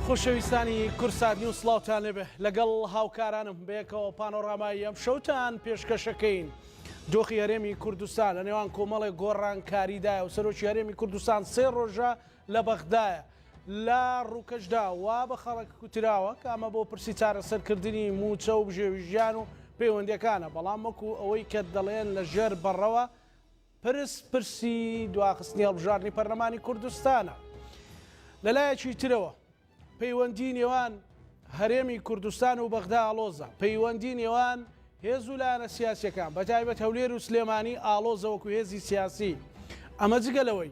خۆشەویستانی کورسات نیو سلااوان لێبێ لەگەڵ هاوکارانم بەیەکەوە پانۆڕامایی ئەم شەوتان پێشکەشەکەین. دۆخی هەرێمی کوردستان لە نێوان کۆمەڵی گۆڕانکاریدایە و سەرۆکی هەرێمی کوردستان سێ ڕۆژە لە بەغدایە لە ڕووکەشدا وا بە خەڵک کوتراوە کە ئەمە بۆ پرسی چارەسەر کردنی مووچە و بژێوی ژیان و پەیوەندیەکانە بەڵام وەکو ئەوەی کە دەڵێن لە ژێر بەڕەوە پرس پرسی دواخستنی هەڵبژاردنی پەرلەمانی کوردستانە لە لایەکی ترەوە پەیوەندی نێوان هەرێمی کوردستان و بەغدا ئاڵۆزە پەیوەندی نێوان هێز و لایەنە سیاسەکان بەتایبەت هەولێر و سلێمانی ئاڵۆزەوەکو هێزی سیاسی ئەمە جگە لەوەی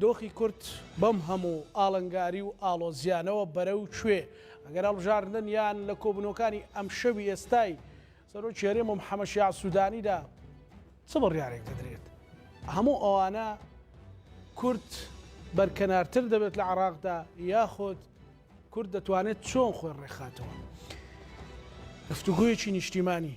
دۆخی کورد بەم هەموو ئاڵنگاری و ئاڵۆزییانەوە بەرەو کوێ؟ ئەگەر هەڵبژاردن یان لە کۆبوونەوەکانی ئەمشەوی ئێستای سەرۆکی هەرێم و محەمەد شیاع سوودانیدا چ بڕیارێک دەدرێت؟ هەموو ئەوانە کورد بەرکەنارتر دەبێت لە عێراقدا یاخود کورد دەتوانێت چۆن خۆی ڕێکخاتەوە؟ گفتوگۆیەکی نیشتیمانی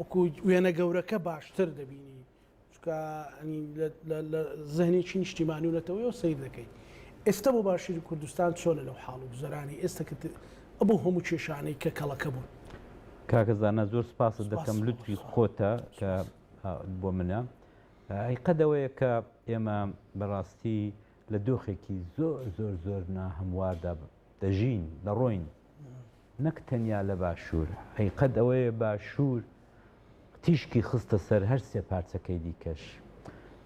وەکو وێنە گەورەکە باشتر دەبینی چکە لە زەهنێکی نیشتیمانی و نەتەوەیەوە سیر دەکەیت ئێستا بۆ باشووری کوردستان چۆنە لەو حاڵ و گوزەرانی ئێستا کە بۆ هەموو کێشانەی کە کەڵەکە بوون کاکەزانە زۆر سپاست دەکەم لوتفی خۆتە کە بۆ منە قەدەوەیە کە ئێمە بەڕاستی لە دۆخێکی زۆر زۆر زۆر ناهمواردا دەژین، دەڕۆین، نەک تەنیا لە باشوور، ئەی قەد ئەوەیە باشوور تیشکی خستە سەر هەر سێ پارچەکەی دیکەش،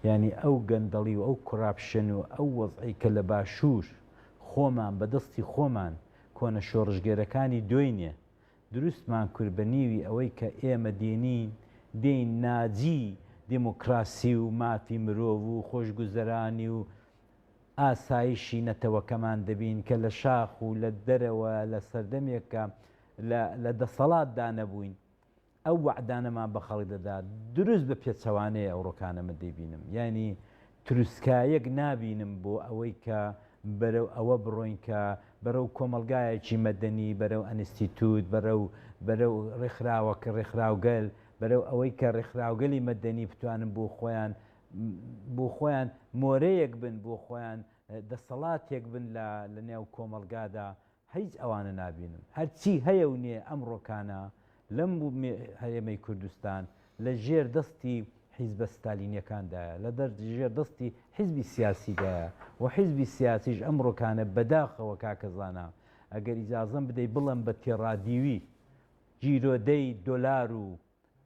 یانی ئەو گەندەڵی و ئەو کوراپشن و ئەو وەزعەی کە لە باشوور خۆمان بە دەستی خۆمان کۆنە شۆڕشگێرەکانی دۆینێ دروستمان کورد بە نیوی ئەوەی کە ئێمە دێنین دێین ناجی دێمۆکراسی و مافی مرۆڤ و خۆشگوزەرانی و ئاسایشی نەتەوەکەمان دەبین کە لە شاخ و لە دەرەوە لە سەردەمێک کە لە لە دەسەڵاتدا نەبووین ئەو وەعدانەمان بە خەڵک دەدا دروست بە پێچەوانەیە ئەوڕۆکانە من دەیبینم یانی تروسکایەک نابینم بۆ ئەوەی کە بەرەو ئەوە بڕۆین کە بەرەو کۆمەڵگایەکی مەدەنی بەرەو ئەنستیتوت بەرەو بەرەو ڕێکخراوەکە ڕێکخراوگەل بەرەو ئەوەی کە ڕێکخراوگەلی مەدەنی بتوانن بۆ خۆیان بۆ خۆیان مۆرەیەک بن، بۆ خۆیان دەسەڵاتێک بن لە لە نێو کۆمەڵگادا، هیچ ئەوانە نابینم. هەر چی هەیە و نییە ئەمڕۆکانە لەم هەرێمەی کوردستان لە ژێر دەستی حیزبە ستالینیەکاندایە، لە ژێر دەستی حیزبی سیاسیدایە و حیزبی سیاسیش ئەمڕۆکانە بەداخەوە کاکە زانا ئەگەر ئیجازەم بدەی بڵێم بە تێڕادیوی گیرۆدەی دۆلار و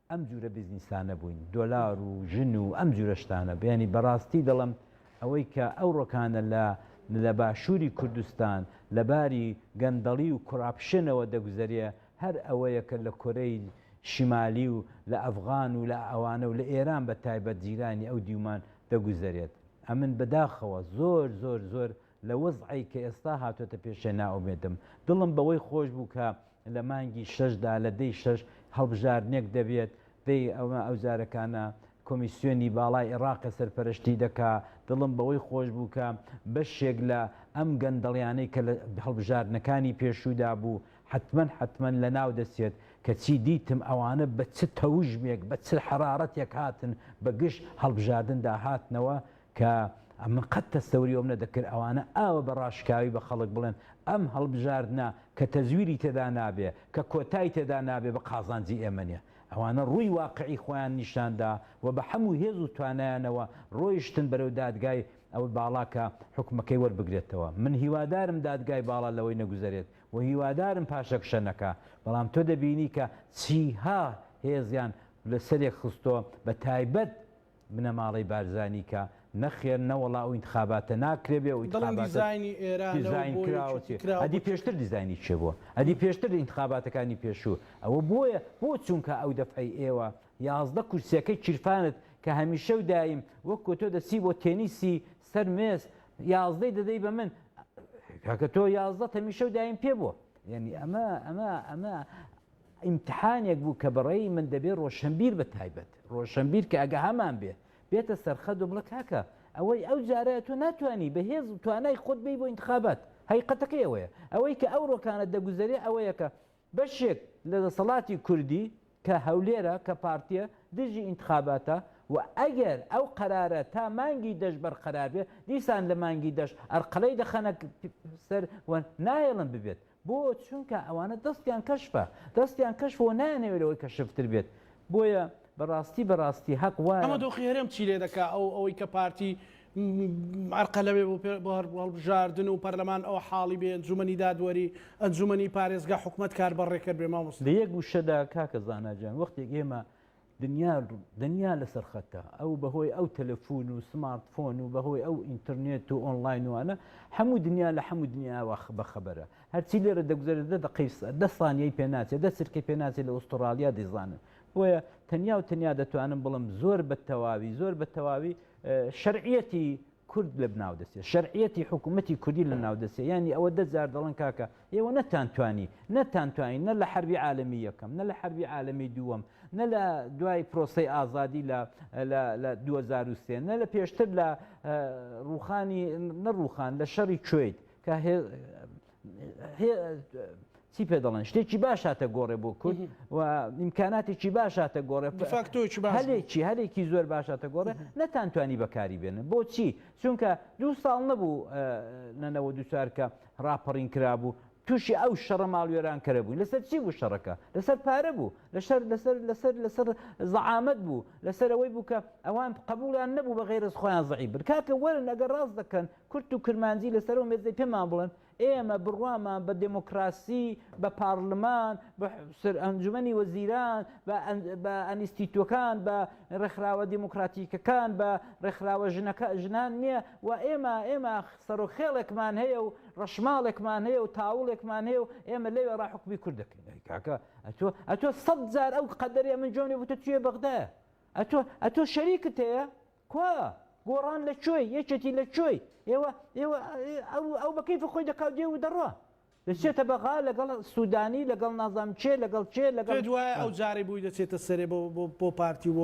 ئەم جورە بزنیسانە بوین دۆلار و ژن و ئەم جورە شتانە بیانی بەراستی دەڵم ئەوەی کە ئەو رۆکانە لە لە باشوری کوردستان لە باری گەندەڵی و کوراپشنەوە دەگوزەرێ هەر ئەوەیە کە لە کۆرەی شمالی و لە ئەفغان و لە ئەوانە و لە ئێران بە تایبەت جیرانی ئەو دیومان دەگوزەرێت ئەمن بە داخەوە زۆر زۆر زۆر لە وەزعەی کە ئێستا هاتۆتە پێشێ نائومێدم، دڵم بەوەی خۆش بوو کە لە مانگی شەش دا لە دەی شەش هەڵبژاردنێک دەبێت، دەی ئەمە ئەوجارەکانە کۆمیسیۆنی باڵای ئێڕاقە سەرپەرەشتی دەکا، دڵم بەوەی خۆش بوو کە بەشێک لە ئەم گەندەڵیانەی کە لە هەڵبژاردنەکانی پێشوو دا بوو حەتمەن حەتمەن لە ناو دەچێت، کەچی دیتم ئەوانە بە چ تەوژمێک بە چ حەرارەتێک هاتن بە گژ هەڵبژاردن دا هاتنەوە کە من قەت تەستەوری ئەوم نەدەکرد ئەوانە ئاوە بە ڕاشکاوی بە خەڵک بڵێن ئەم هەڵبژاردنە کە تەزویری تێدا نابێ کە کۆتای تێدا نابێ بە قازانجی ئێمە نیە ئەوانە ڕووی واقعی خۆیان نیشان دا و بە حەموو هێز و توانایانەوە ڕۆیشتن بەرەو دادگای ئەو باڵا کە حوکمەکەی وەربگرێتەوە من هیوادارم دادگای باڵا لەوەی نەگوزەرێت و هیوادارم پاشەکشە نەکا بەڵام تۆ دەبینی کە چیها هێزیان لە سەرێک خستۆ بە تایبەت بنەماڵەی بارزانی کە، نەخێر نەوەڵا ئەو ئینتخاباتە ناکرێ بێ ئەو دەڵێن ئینتخاباتە دیزاینی ئێرانە و دیزاین بۆ کراوە یەکێتی چێ کراوە ئەدی بۆ چ پێشتر دیزاینی کێ بووە ئەدی پێشتر ئینتخاباتەکانی پێشوو ئەوە بۆیە بۆ چونکا ئەو دەفعەی ئێوە یازدە کورسیەکەی کیرفانت کە هەمیشە و دایم وەکو تۆ دەچی بۆ تێنیسی سەر مێز یازدەی دەدەی بە من کاکە تۆ یازدەت هەمیشە و دایم پێ بووە یانی ئەمە ئەمە ئەمە ئیمتحانێک بوو کە بەڕێی من دەبێ ڕۆشنبیر بە تایبەت ڕۆشنبیر کە ئەگەهامان بێ بێتە سەرخە دوبڵە کاکە ئەوەی ئەو جارە تۆ ناتوانانی بە هێز و توانای خۆت بی بۆ انتخابات هەیقەتەکەی ئەوەیە ئەوەی کە ئەو ڕۆکانە دەگوزەرێ ئەوەیەکە بەشێک لە دەسەڵاتی کوردی کە هەولێرە کە پارتیە دژی انتخاباتە و ئەگەر ئەو قەرارە تا مانگی دەش بەرقەرار بێ دیسان لە مانگی دەش ئەرقەلەی دەخەنە سەر نایڵن ببێت بۆ چونکە ئەوانە دەستیان کەشفە دەستیان کەشفە وە نایانەوێت لەوەی کەشفتر بێت بۆیە بەڕاستی بەڕاستی هەق ئەمە وایە. دۆخی هەرێم چی لێ دەکا ئەو ئەوەی کە پارتی م ئەرقە لەوێ بۆ پێ بۆ هەر هەڵبژاردن و پەرلەمان ئەوە حاڵی بێ ئەنجومەنی دادوەری ئەنجومەنی پارێزگا حکومەت کار بە ڕێکەر بێ مامۆستا. لە یەک وشەدا کاکە زانا جان وەختێک ئێمە دنیا دنیا لەسەر خەتە ئەو بەهۆی ئەو تەلەفون و سمارت فۆن و بەهۆی ئەو ئینتررنێت و ئۆنلاینوانە هەموو دنیا لە هەموو دنیاوە بەخەبەرە هەرچی لێرە دەگوزەرە دە دەقیس دە سانیەی پێناچێت دە چرکەی پێناچێت لە ئوسترالیا دەیزانن بۆیە تەنیا و تەنیا دەتوانم بڵم زۆر بە تەواوی زۆر بە تەواوی شەرعەتی کورد لەبناو دەچێت شەرعیەتی حکومەتی کوردی لەناو دەچێت یانی ئەوە دە جار دەڵن کاکە ئێوە نەتانتوانی نەتانتوانی نە لە حربی عالمی یەکەم نە لە حربی عالمی دووەم نە لە دوای پرۆسی ئازادی لە لە 2023 نە لە پێشتر لە ڕوخانی نەڕوخان لە شەڕی کوێیت کە چی پێ دەڵێن شتێکی باش هاتە گۆڕێ بۆ کورد و ئیمکاناتێکی باش هاتە گۆڕێ هەلێکی هەلێکی زۆر باش هاتە گۆڕێ نەتانتوانی بەکاری بێنن بۆچی چونکە دوو ساڵ نەبوو نەنەوە دووچارکە ڕاپەڕین کرابوو تووشی ئەو شەڕە ماڵوێران کەرە بووین لەسەر چی بوو شەڕەکە لەسەر پارە بوو لەسەر لەسەر لەسەر لەسەر زەعامەت بوو لەسەر ئەوەی بوو کە ئەوان قبولیان نەبوو بە غێرز خۆیان زعی بن کاکە وەرن ئەگەر ڕاست دەکەن کورد و کرمانجی لەسەر ئەو مێزەی پێمان بڵێن ئێمە بڕوامان بە دێمۆکڕاسی، بە پاڕلمان، بە ئەنجومەنی وەزیران، بە ئەنیستیتووەکان، بە ڕێکخراوە دێمۆکڕاتیکەکان، بە ڕێکخراوە ژنان نییە و ئێمە ئێمە سەرۆک خێڵێکمان هەیە و ڕەشماڵێکمان هەیە و تاوڵێکمان هەیە و ئێمە لەوێڕا حوکمی کورد دەکەین. ئەی کاکە ئەتۆ ئەتۆ سەد جار ئەو قەدەرەی ئەمن جۆنێ بوو تۆ توێ بەغدایە؟ ئەتۆ ئەتۆ شەریکت هەیە؟ کوا گۆڕان لە کوێی یەکێتی لە کوێی ئێوە ئێوە ئەو ئەو بە کەیفی خۆی دەکا و دێ و دەڕوا دەچێتە بەغا لەگەڵ سوودانی لەگەڵ نازانم کێ لەگەڵ کێ لەگەڵ پێت وایە ئەو جارەی بووی دەچێتە سەرێ بۆ بۆ بۆ پارتی و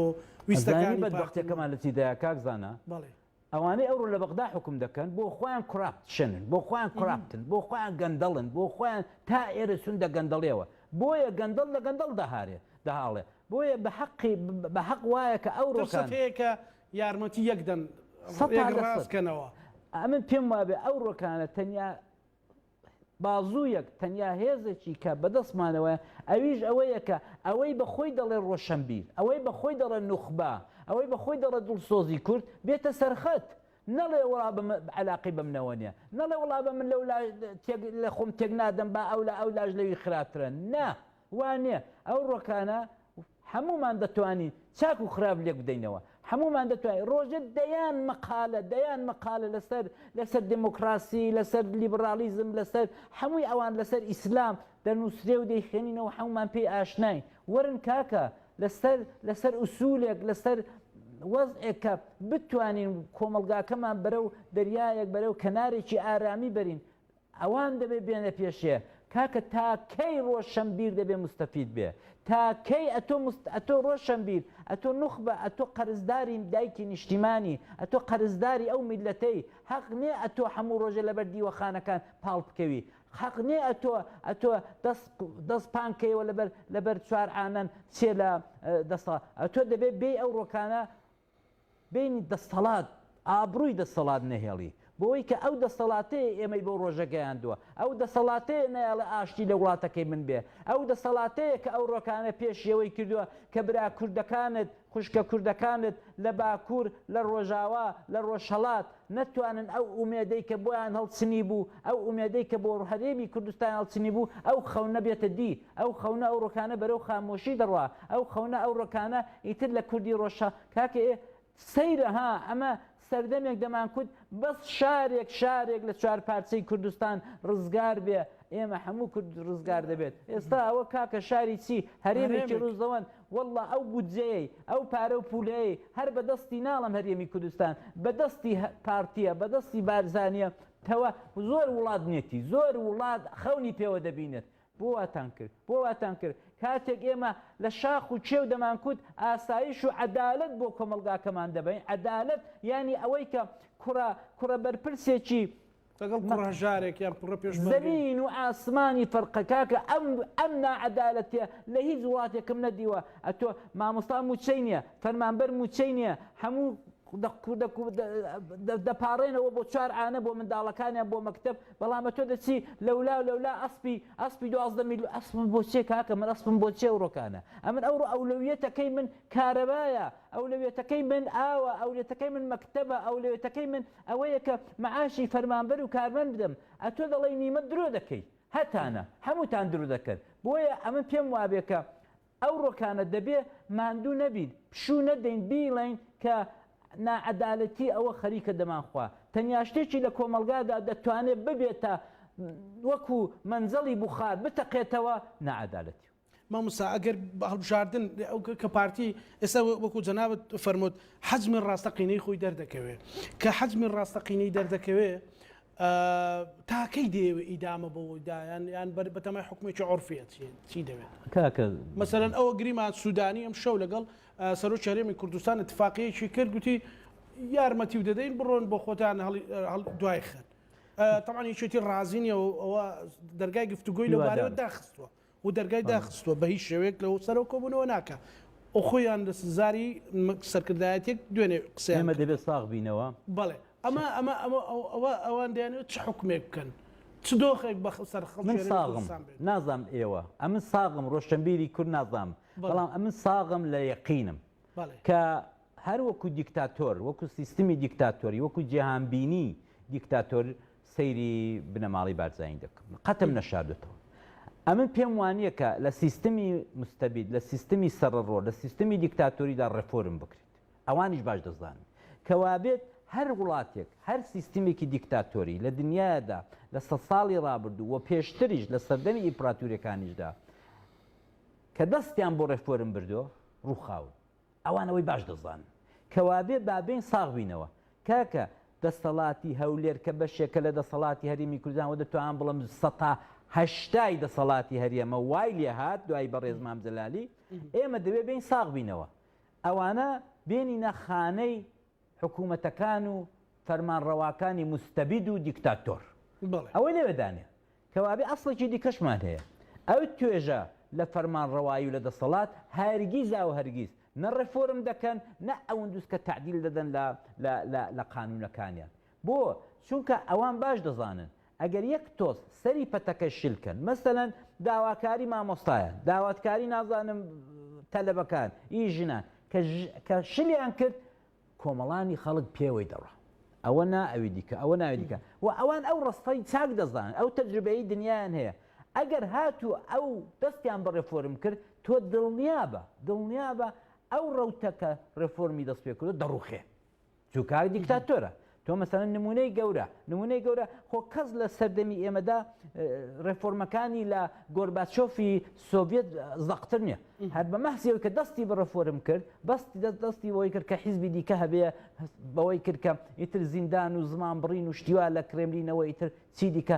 ویستەکانی ئەزانی پارتی بەدبەختیەکەمان لە چیدایە کاک زانا بەڵێ ئەوانەی ئەوڕۆ لە بەغدا حوکم دەکەن بۆ خۆیان کراپشنن بۆ خۆیان کراپتن بۆ خۆیان گەندەڵن بۆ خۆیان تا ئێرە چوون دە گەندەڵیەوە بۆیە گەندەڵ لە گەندەڵ دەهارێ دەهاڵێ بۆیە بە هەقی بە هەق وایە کە ئەو ڕۆکان. ترسەت هەیە کە یارمەتی یەک دەن سەد یەک لە ڕاست سەد کەنەوە. ئەمن پێم وابێ ئەو ڕۆکانە تەنیا بازوویەک تەنیا هێزێکی کە بە دەستمانەوەیە ئەویش ئەوەیە کە ئەوەی بە خۆی دەڵێ ڕۆشەنبیر ئەوەی بە خۆی دەڵێ نوخبە ئەوەی بە خۆی دەڵێ دڵسۆزی کورد بێتە سەرخەت نەڵێ وڵا بم علاقی بەم نەوە نیە نەڵێ وڵا بە من لەو لا تێک لە خۆم تێک نادەم با ئەو لە ئەو لاش لەوی خراترە نا وا نیە ئەو ڕۆکانە هەموومان دەتوانین چاک و خراپ لێک بدەینەوە هەموومان دەتوانین ڕۆژێ دەیان مەقالە دەیان مەقالە لەسەر لەسەر دێمۆکڕاسی لەسەر لیبڕاڵیزم لەسەر هەمووی ئەوان لەسەر ئیسلام دەنووسرێ و دەیخوێنینەوە هەموومان پێی ئاشناین وەرن کاکە لەسەر لەسەر ئوسوولێک لەسەر وەزعێک کە بتوانین کۆمەڵگاکەمان بەرەو دەریایەک بەرەو کەنارێکی ئارامی بەرین ئەوان دەبێ بێنە پێشێ. کاکە تا کەی ڕۆشەنبیر دەبێ موستەفید بێ؟ تا کەی ئەتۆ موست ئەتۆ ڕۆشەنبیر ئەتۆ نوخبە ئەتۆ قەرزداری دایکی نیشتیمانی ئەتۆ قەرزداری ئەو میللەتەی هەق نیە ئەتۆ حەموو ڕۆژێ لەبەر دیوەخانەکان پاڵ بکەوی حەق نیە ئەتۆ ئەتۆ دەس دەس پان کەیەوە لەبەر لەبەر چوار عانەن چێ لە دەسەڵا ئەتۆ دەبێ بێی ئەو ڕۆکانە بینی دەستەڵات ئابڕووی دەستەڵات نەهێڵی بۆوەی کە ئەو دەستەڵاتەیە ئێمەی بەو ڕۆژە گەیاندووە ئەو دەسەڵاتەیە نەیەڵێ ئاشتی لە وڵاتەکەی من بێ ئەو دەسەڵاتەیە کە ئەو ڕۆکانە پێشی ئەوەی کردووە کە برا کوردەکانت خوشکە کوردەکانت لە باکوور لە ڕۆژاوا لە ڕۆژهەڵات نەتوانن ئەو ئومێدەی کە بۆیان هەڵچنیبوو، ئەو ئومێدەی کە بۆ هەرێمی کوردستان هەڵچنیبوو، ئەو خەونە بێتە دی، ئەو خەونە ئەو ڕۆکانە بەرەو خامۆشی دەڕوا، ئەو خەونە ئەو ڕۆکانە ئیتر لە کوردی ڕۆژ شا. کاکە ئێ سەیرە ها، ئەمە سەردەمێک دەمانکوت بەس شارێک شارێک لە چوار پارچەی کوردستان ڕزگار بێ، ئێمە هەموو کورد ڕزگار دەبێت، ئێستا ئەوە کاکە شاری چی، هەرێمێکی ڕووزەوەند، وەڵڵا ئەو بودجەیەی ئەو پارە و پولەیەی هەر بە دەستی ناڵێم هەرێمی کوردستان بە دەستی پارتیە بە دەستی بارزانیە تەوە زۆر وڵات نێتی زۆر وڵات خەونی پێوە دەبینێت بۆ واتان کرد بۆ واتان کرد کاتێک ئێمە لە شاخ و کێو دەمانکوت ئاسایش و عەدالەت بۆ کۆمەڵگاکەمان دەبین عەدالەت یانی ئەوەی کە کوڕە کوڕە بەرپرسێکی لەگەڵ کوڕە هەژارێک یان کوڕە پێشمەرگەی. زەمین و ئاسمانی فەرقە کاکە ئەم ئەم ناعەدالەتیە لە هیچ وڵاتێکم نەدیوە ئەتۆ مامۆستا موچەی نیە فەرمانبەر موچەی نیە هەموو دەپاڕێنەوە بۆ چوار عانە بۆ منداڵەکانیان بۆ مەکتب بەڵام تۆ دەچی لەولا لەولا ئەسپی ئەسپی دوازدە میل ئەسم بۆ چێ کاکە من ئەسپم بۆ چێ ڕۆکانە ئەمن ئەو ئەولەویەتەکەی من کارەبایە ئەولەویەتەکەی من ئاوە ئەولێتەکەی من مەکتبە ئەولەوێتەکەی من ئەوەیە کە معاشی فەرمانبەر و کارمەند بدەم، ئەتۆ دەڵێی نیمە درۆ دەکەی، هەتانە، هەمووتان درۆ دەکەن، بۆیە ئەمن پێم وابێ کە ئەو ڕۆکانە دەبێ ماندوو نەبین، پشوو نەدەین بیڵێین کە ناعەدالەتی ئەوە خەریکە دەمانخوا، تەنیا شتێکی لە کۆمەڵگادا دەتوانێ ببێتە وەکوو مەنجەڵی بوخار بتەقێتەوە، ناعەدالەتی و. ماموستا ئەگەر هەڵبژاردن کە پارتی ئێستا وەکو جەنابت فەرموت حەجمی ڕاستەقینەی خۆی دەردەکەوێ کە حەجمی ڕاستەقینەی دەردەکەوێ تاکەی دەیەوێت ئیدامە بەوەدایان یان بەر بەتەمای حکومێکی عرفێت چی دەوێت کاکە مەسەرەن ئەوە گریمان سوودانی ئەم شەو لەگەڵ سەرۆ چارێمی کوردستان اتفاقیەکی کرد گوتی یارمەتی و دەدەین بڕۆن بۆ خۆتان دوای خن تەمانی چێتی ڕازینیەوە ئەوە دەرگای گفتوگۆی لەبارەوە داخستووە و دەرگای داخستووە بە هیچ شێوەیەک لەوە سەرەوە کۆبوونەوە ناکا و خۆیان لە زاری سەرکردایەتیەک دوێنێ قسەیان ئێمە کرد. دەبێت ساغ بینەوە. بەڵێ ئەمە ئەمە ئەمە ئەوە ئەوان دەیانەوێت چ حوکمێک بکەن چ دۆخێک بە سەر خەڵکی من هەرێمی ساغم کوردستان بێت. نازانم ئێوە ئەمن ساغم ڕۆشەنبیری کورد نازانم بەڵێ. بەڵام ئەمن ساغم لە یەقینم بەڵێ. کە هەر وەکو دیکتاتۆر وەکو سیستمی دیکتاتۆری وەکو جیهانبینی دیکتاتۆر سەیری بنەماڵەی بارزانی دەکەم قەتم نەشاردوتەوە ئەمن پێم وانییە کە لە سیستمی مستەبیت لە سیستمی سەرڕۆ لە سیستمی دیکتاتۆریدا ڕێفۆرم بکرێت ئەوانیش باش دەزانن کەوابێت هەر وڵاتێک هەر سیستمێکی دیکتاتۆری لە دنیادا لە سە ساڵی ڕابردوو و پێشتریش لە سەردەمی ئیمپراتورەکانیشدا کە دەستیان بۆ ڕێفۆرم بردو ڕووخاون ئەوان ئەوەی باش دەزانن. کەوابێ با بێین ساغ بینەوە. کاکە دەستەڵاتی هەولێر کە بەشێکە لە دەسەڵاتی هەرێمی کوردستان وە دەتوانم بڵێم سەتا هەشتای دەسەڵاتی هەرێمە وای لێ هات دوای بەڕێز مام جەلالی ئێمە دەوێ بێین ساغ بینەوە. ئەوانە بێنینە خانەی حکومەتەکان و فەرمانڕەواکانی موستەبید و دیکتاتۆر بەڵێ ئەوەی لەوێدانێ کەوابێ ئەسڵێکی دیکەشمان هەیە ئەو توێژە لە فەرمانڕەوایی و لە دەسەڵات هەرگیزا و هەرگیز نە ڕێفۆرم دەکەن نە ئەوندووس کە تەعدیل دەدەن لە لە لە لە قانوونەکانیان بۆ چونکە ئەوان باش دەزانن ئەگەر یەک تۆز سەری پەتەکە شل کەن مەسەلەن داواکاری مامۆستایان داواتکاری نازانم تەلەبەکان ی ژنان کە شلیان کرد کۆمەڵانی خەڵک پێوەی دەڕۆ ئەوە نا ئەوی دیکە ئەوە ناوی دیکە و ئەوان ئەو ڕستەی چاک دەزانن ئەو تەجربەی دنیایان هەیە ئەگەر هاتوو ئەو دەستیان بە ڕێفۆرم کرد تۆ دڵنیابە دڵنیابە ئەو ڕوتەکە ڕێفۆرمی دەست پێکردو دەڕوخێ چو کار دیکتاتۆرە تۆ مەسەن نمونەی گەورە نمونەی گەورە خۆ کەس لە سەردەمی ئێمەدا ڕێفۆرمەکانی لە گۆرباچۆفی سۆڤێت زەقتر نیە هەر بە مەحسیەوە کە دەستی بە ڕفۆرم کرد بەستی دەست دەستی بەوەی کرد کە حیزبی دیکە هەبێ بەوەی کردکە ئیتر زیندان و زمان بڕین و شتیوا لە کرێملینەوە ئیتر چی دیکە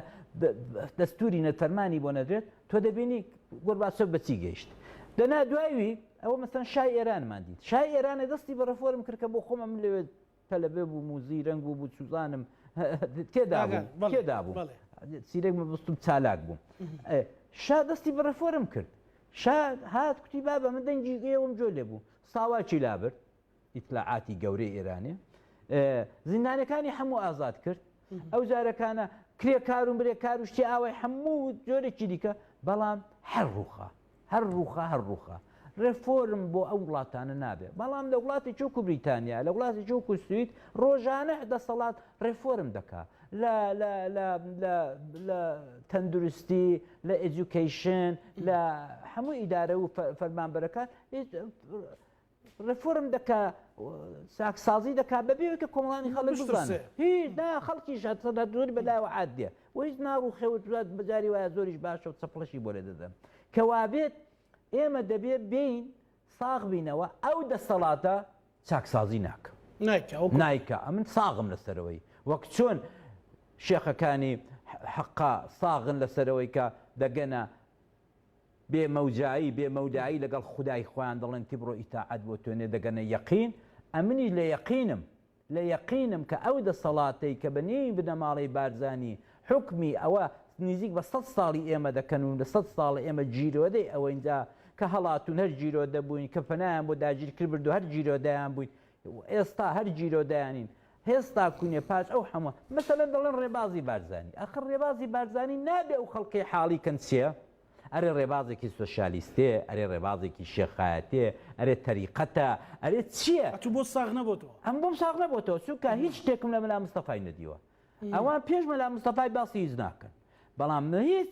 دەستوری نەتەرمانی بۆ نەدرێت تۆ دەبینی گۆرباچۆف بە چی گەیشت. دەنا دوایی ئەوە مەسەن شای ئێرانمان دیت. شای ئێرانە دەستی بە ڕفۆرم کرد کە بۆ خۆمە من لەوێ تەلەبێ بووم و زیرەنگ بوو بوو چوزانم تێدا تێدا بوو سیرەک مەبستم چالاک بووم. شا دەستی بە ڕفۆرم کرد. شا هات کوتی بابە من دەنگی ئێوەم جۆ لێ بوو ساواکی لابرد ئیتلاعاتی گەورەی ئێرانێ زیندانەکانی هەموو ئازاد کرد ئەو جارەکانە کرێکار و برێکار و شتی ئاوای هەموو جۆرێکی دیکە بەڵام هەر ڕوخە هەر ڕوخە هەر ڕوخە ڕێفۆرم بۆ ئەو وڵاتانە نابێت بەڵام لە وڵاتی چۆک و بریتانیا لە وڵاتی چۆک و سوید ڕۆژانە دەسەڵات ڕێفۆرم دەکا لە تەندروستی لە ئەجوکیشن لە هەموو ئیدارە و فەرمانبەرەکان ڕێفۆرم دەکا ساکسازی دەکا بەبێ ئەوکە کۆمەڵانی خەڵک بزانێ هیچ نا خەڵکیش هەسەدا دوور بەلاوە عادێ و هیچ ناڕوخێ و دوات بەجاری وایە زۆریش باشە و چەپڵەشی بۆ لێ دەدەن کەوابێت ئێمە دەبێ بین ساغ بینەوە ئەو دەسەڵاتە چاکسازی ناکە نایکە ئەمن ساغم لەسەرەوەی وەک چۆن شێخەکانی حەقا ساغن لەسەرەوەی کە دەگەنە بێ مەوجایی بێ مەودایی لەگەڵ خودای خۆیان دەڵێن تبرۆ ئیتاعەت بۆ تۆ نێ دەگەنە یەقین ئەمنیش لە یەقینم لە یەقینم کە ئەو دەسەڵاتەی کە بە نێوی بنەماڵەی بارزانی حوکمی ئەوە نزیک بە سەد ساڵی ئێمە دەکەن و لە سەد ساڵە ئێمە جیرۆدەی ئەوەین جا کە هەڵاتوون هەر جیرۆدە بووین کە پەنایان بۆ داگیرکر برد و هەر جیرۆدەیان بووین ئێستا هەر گیرۆدەیانین هێز تاکوونێ پاش ئەو حەموە مەسەلەن دەڵێن ڕێبازی بارزانانی ئەخر ڕێبازی بارزانانی نابێ ئەو خەڵکەی حاڵی کەن چیە ئەرێ ڕێبازێکی سۆشیالیستێ ئەرێ ڕێبازێکی شێخایەتێ ئەرێ تەریقەتە ئەرێ چییە ئەتوو بۆ ساغ نەبۆتەوە ئەم بۆم ساغ نەبۆتەوە چونکە هیچ شتێکم لە مەلا مستەفای نەدیوە ئەوان پێش مەلا مستەفای باسی هیچ ناکەن بەڵام هیچ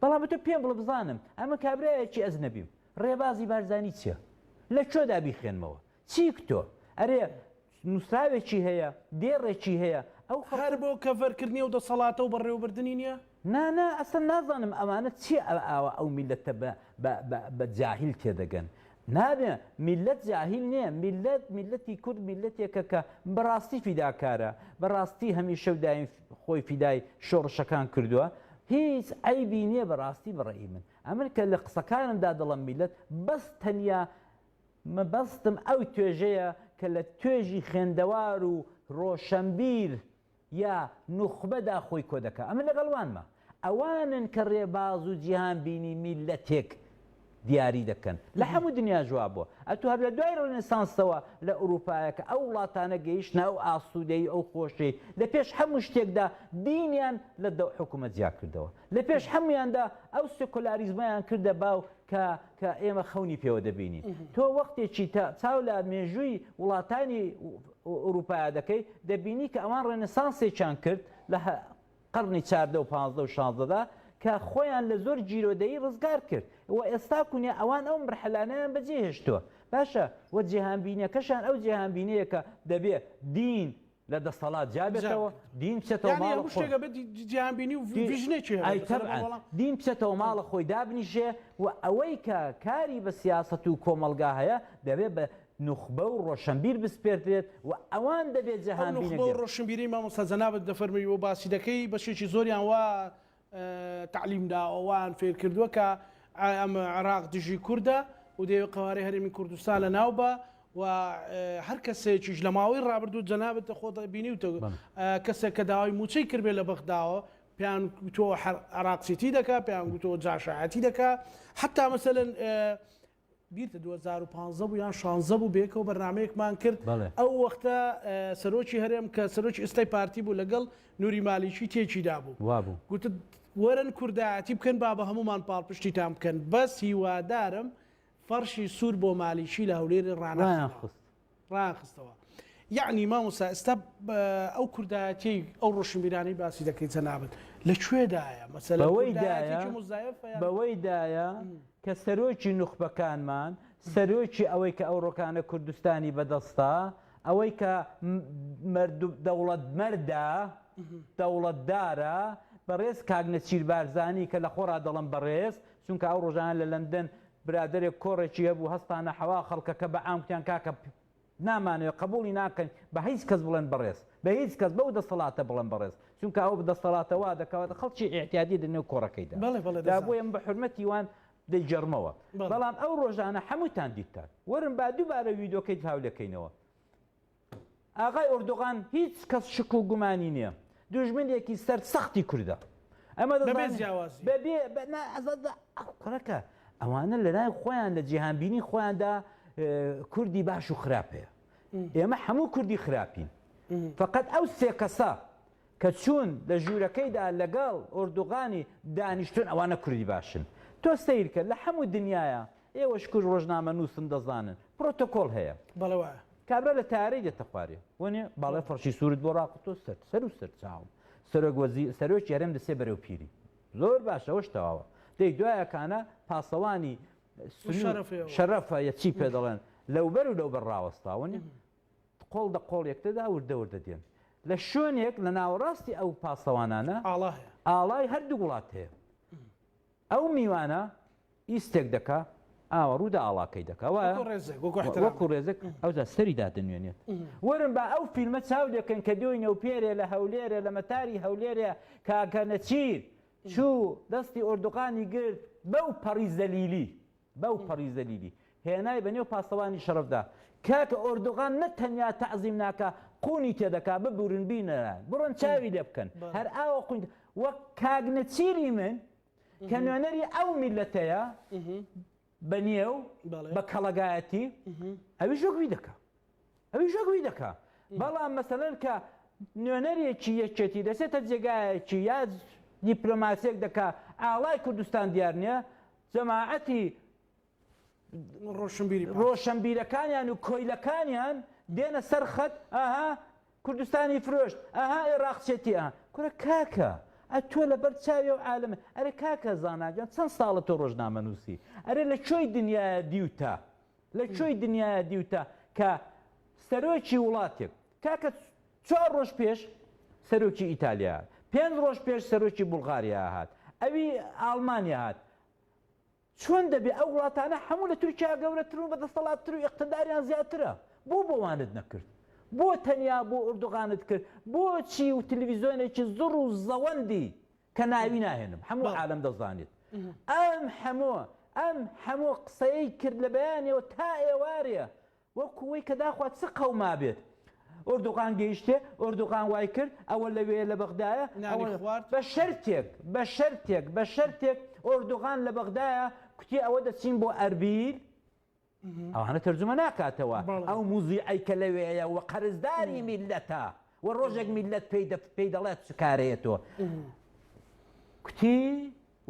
بەڵام تۆ پێم بڵە بزانم ئەمە کابرایەکی ئەزنەبیم ڕێبازی بارزانی چیە لە چۆدا بیخێنمەوە چیک تۆ ئەرێ نووسراوێکی هەیە دێڕێکی هەیە ئەو هەر بۆ کەڤەرکردنی و دەسەڵاتە و بەڕێوەبردننی نیە نانا ئەسن نازانم ئەمانە چی ئەوە ئەو میلەتە بە جاهیل تێدەگەن نابێ میللەت جاهیل نیە، میللەت میللەتی کورد میللەتێکە کە بەڕاستی فیداکارە، بەڕاستی هەمیشە و دایم خۆی فیدای شۆڕشەکان کردوە، هیچ عەیبی نیە بەڕاستی بەڕەئی من ئەمن کە لە قسەکانمدا دەڵەم میللەت بەس تەنیا مەبەستم ئەو توێژەیە کە لە توێژی خوێندەوار و ڕۆشەنبیر یا نوخبە دا خۆی کۆدەکا ئەمن لەگەڵ وانمە ئەوانن کە ڕێباز و جیهان بینی میللەتێک دیاری دەکەن لە هەموو دنیا جوابوە ئەتو هەر لە دوای ڕێنێسانسەوە لە ئوروپایەکە ئەو وڵاتانە گەیشتنە ئەو ئاسودەی ئەو خۆشەی لە پێش هەموو شتێکدا دینیان لە دە حکومەت جیا کردەوە لە پێش هەمویاندا ئەو سکۆلاریزمەیان کردە باو کە کە ئێمە خەونی پێوە دەبینین تۆ وەختێکی تا چاو لە مێژووی وڵاتانی ئورووپایا دەکەی، دەبینی کە ئەوان ڕێنسانسێکیان کرد لە قەڕنی چاردە و پازدە و شازدەدا کە خۆیان لە زۆر گیرۆدەیی ڕزگار کرد و ئێستا کونێ ئەوان ئەو مەرحەلانەیان بە جێ هێشتووە باشە و جێهانبینیەکەشیان ئەو جێهانبینەیە کە دەبێ دین لە دەسەڵات جیا بێتەوە، دین بچێتەوە ماڵ خۆی. یانی هەموو شتێک دەبێ جێهانبینی و ڤیژنێکی هەبێ. ئەی تەبعەن، دین بچێتەوە ماڵ خۆی دابنیشێ و ئەوەی کە کاری بە سیاسەت و کۆمەڵگا هەیە دەبێ بە نوخبە و ڕۆشنبیر بسپێردرێت و ئەوان دەبێت ئەو جەهان نوخبە و بینەگرن. ڕۆشنبیرەی مامۆستا جەنابت دەفەرمووی و باسی دەکەی بەشێکی زۆریان وا تەعلیم داوە وایان فێر کردووە کە ئەم عێراق دژی کوردە و دەیەوێت قەوارەی هەرێمی کوردستان لە ناو با و هەر کەسێکیش لە ماوەی ڕابردوو جەنابت خۆت بینیوتە بەڵێ. کەسێک کە داوای مووچەی کردبێت لە بەغداوە پێیان گوتووە حە عێراق سیتی دەکا پێیان گوتووە جاشایەتی دەکا حەتا مەسەلەن بیرتە دوو هەزار و پازدە بوو یان شانزدە بوو بەیەکەوە بەرنامەیەکمان کرد بەڵێ. ئەو وەختە سەرۆکی هەرێم کە سەرۆکی ئێستای پارتی بوو لەگەڵ نوری مالیکی تێکی دابوو وابوو. گوتت وەرن کوردایەتی بکەن با بە هەموومان پاڵپشتیتان بکەن بەس هیوادارم فەڕشی سوور بۆ مالیکی لە هەولێر ڕانەخەنەوە. ڕایانخست. ڕایانخستەوە یەعنی مامۆستا ئێستا ئەو کوردایەتیەی ئەو ڕۆشنبیرانەی باسی دەکەی جەنابت لە کوێدایە مەسەلە بەوەی دایە بەوەی دایە کە سەرۆکی نوخبەکانمان سەرۆکی ئەوەی کە ئەو ڕۆکانە کوردستانی بەدەستە ئەوەی کە دەوڵەت مەردە دەوڵەتدارە بەڕێز کاک نەچیر بارزانی کە لە خۆڕا دەڵم بەڕێز چونکە ئەو ڕۆژانە لە لەندەن برادەرێک کۆڕێکی هەبوو هەستانە حەوا خەڵکەکە بە عام کوتیان کاکە پ نامانەوێ قەبوڵی ناکەین بە هیچ کەس بڵێن بەڕێز بە هیچ کەس بەو دەسەڵاتە بڵێن بەڕێز چونکە ئەو دەسەڵاتە وا دەکات خەڵکی ئیعتیادی لە نێو کۆڕەکەیدا بەڵێ بەڵێ دا دەزانم بۆیە من بە حورمەتی وان دەیگێڕمەوە بەڵێ. بەڵام ئەو ڕۆژانە حەمووتان دیتتان وەرن با دووبارە ویدۆکەی هاولێکەینەوە. ئاغای ئۆردوغان هیچ کەس شک و گومانی نیە دوژمنێکی سەر سەختی کوردە ئەمە دەزانێت بەبێ جیاوازی بەبێ بەنا ئەزەدا کوڕەکە ئەوانە لەلای خۆیان لە جیهان بینی خۆیاندا کوردی باش و خراپ هەیە ئێمە هەموو کوردی خراپین فقط ئەو سێ کەسە کە چوون لە ژوورەکەیدا لەگەڵ ئۆردوغانی دانیشتون ئەوانە کوردی باشن تۆ سیرکە لە هەموو دنیاە ئێوە شکور ڕۆژنامەنووسن دەزانن پرۆتۆکۆل هەیە. بەڵێ وایە. کابرا لە تەیارەی دێتە خوارێ. وەنێ باڵای فڕشی سوورت بۆ ڕاکوتۆ سەر سەر و سەرچاوم. سەرۆک وەزی سەرۆکی هەرێم دەچێ بەرەو پیری. زۆر باشە ئەوەش تەواوە. دەی دوایە کانە پاسەوانی سنوور شەرەفە یە چی پێ دەڵێن لەوبەر و لەوبەر ڕاوەستا وەنێ قۆڵ دە قۆڵ یەکتردا وردە وردە دێن. لە شوێنێک لە ناوەڕاستی ئەو پاسەوانانە ئاڵا هەیە. ئاڵای هەردوو وڵات هەیە. ئەو میوانە ی ستێک دەکا ئاوەڕو دا ئاڵاکەی دەکا وایە وەکو ڕێزێک وەکو ئەحترام وەکو ڕێزێک ئەوجا سەری دادەنوێنێت وەرن با ئەو فیلمە چاو لێکەن کە دۆی نەوپێرێ لە هەولێرێ لە مەتاری هەولێرێ کاکە نەچیر چوو دەستی ئۆردوغانی گرت بەو پەڕی زەلیلی بەو پەڕی زەلیلی هێنای بە نێو پاسەوانی شەڕەفدا. کاکە ئۆردۆغان نە تەنیا تەعزیم ناکا قوونی تێدەکا، ببورن بینەرە بڕۆن چاوی لێ بکەن هەر ئاوا قوون وەک کاک نەچیری من کە نوێنەری ئەو میللەتەیە بە نێو بە کەڵەگایەتی ئەویش وەک وی دەکا. ئەویش ئەگوی دەکا بەڵام مەسەلەن کە نوێنەرێکی یەکێتی دەسێتە جێگایەکی یا دیپلۆماسیەک دەکا ئاڵای کوردستان دیار نیە جەماعەتی ڕۆشنبیرەکانیان و کۆیلەکانیان دێنە سەر خەت ئاها کوردستانی فرۆشت ئەها ئێراقچێتی ئە کورە کاکە ئە تۆ لەبەر چاوی و عالم ئەرێ کاکە زاناگەن چەند ساڵە تۆ ڕۆژنامە نووسی ئەرێ لە چۆی دنیاە دیوتە لە کوێی دنیایە دیوتە کە سەرۆکی وڵاتێک، کاکە چوار ڕۆژ پێش سەرۆکی ئیتالیا هات، پێنج ڕۆژ پێش سەرۆکی بوڵغاریا هات، ئەوی ئاڵمانیا هات، چۆن دەبێ ئەو وڵاتانە هەموو لە تورکیا گەورەترن و بە دەستەڵاتتر و ئیقتداریان زیاترە، بۆ بۆوانت نەکرد؟ بۆ تەنیا بۆ ئوردوغانت کرد؟ بۆچی تلویزیۆنێکی زڕ و زەوەندی کە ناوی ناهێنم هەموو عالەم دەزانێت ئەم هەمۆ ئەم هەمۆ قسەی کرد لە بەیانەوە تا ئێوارێ وەکو وەی کە داخوا چ قەوما بێت ئۆردوغان گەیشتێ ئۆردوغان وای کرد ئەوە لەوێ لە بەغدایە بە شەرتێک بە شەرتێک بە شەرتێک ئۆردوغان لە بەغدایە کوتی ئەوە دەچین بۆ ئەربیل ئەوانە تەرجومە ناکاتەوە ئەو موزیعەی کە لەوێیە و قەرزداری میللەتە و ڕۆژێک میللەت پێی دەڵێت چ کارەیە تۆ کوتی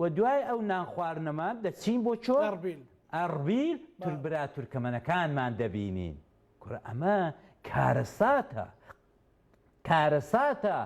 و دوای ئەو نان خواردنەما دەچین بۆ چۆ ئەڕبیل تور برا تورکەمەنەکانمان دەبینین کورە ئەمە کارەساتە کارەساتە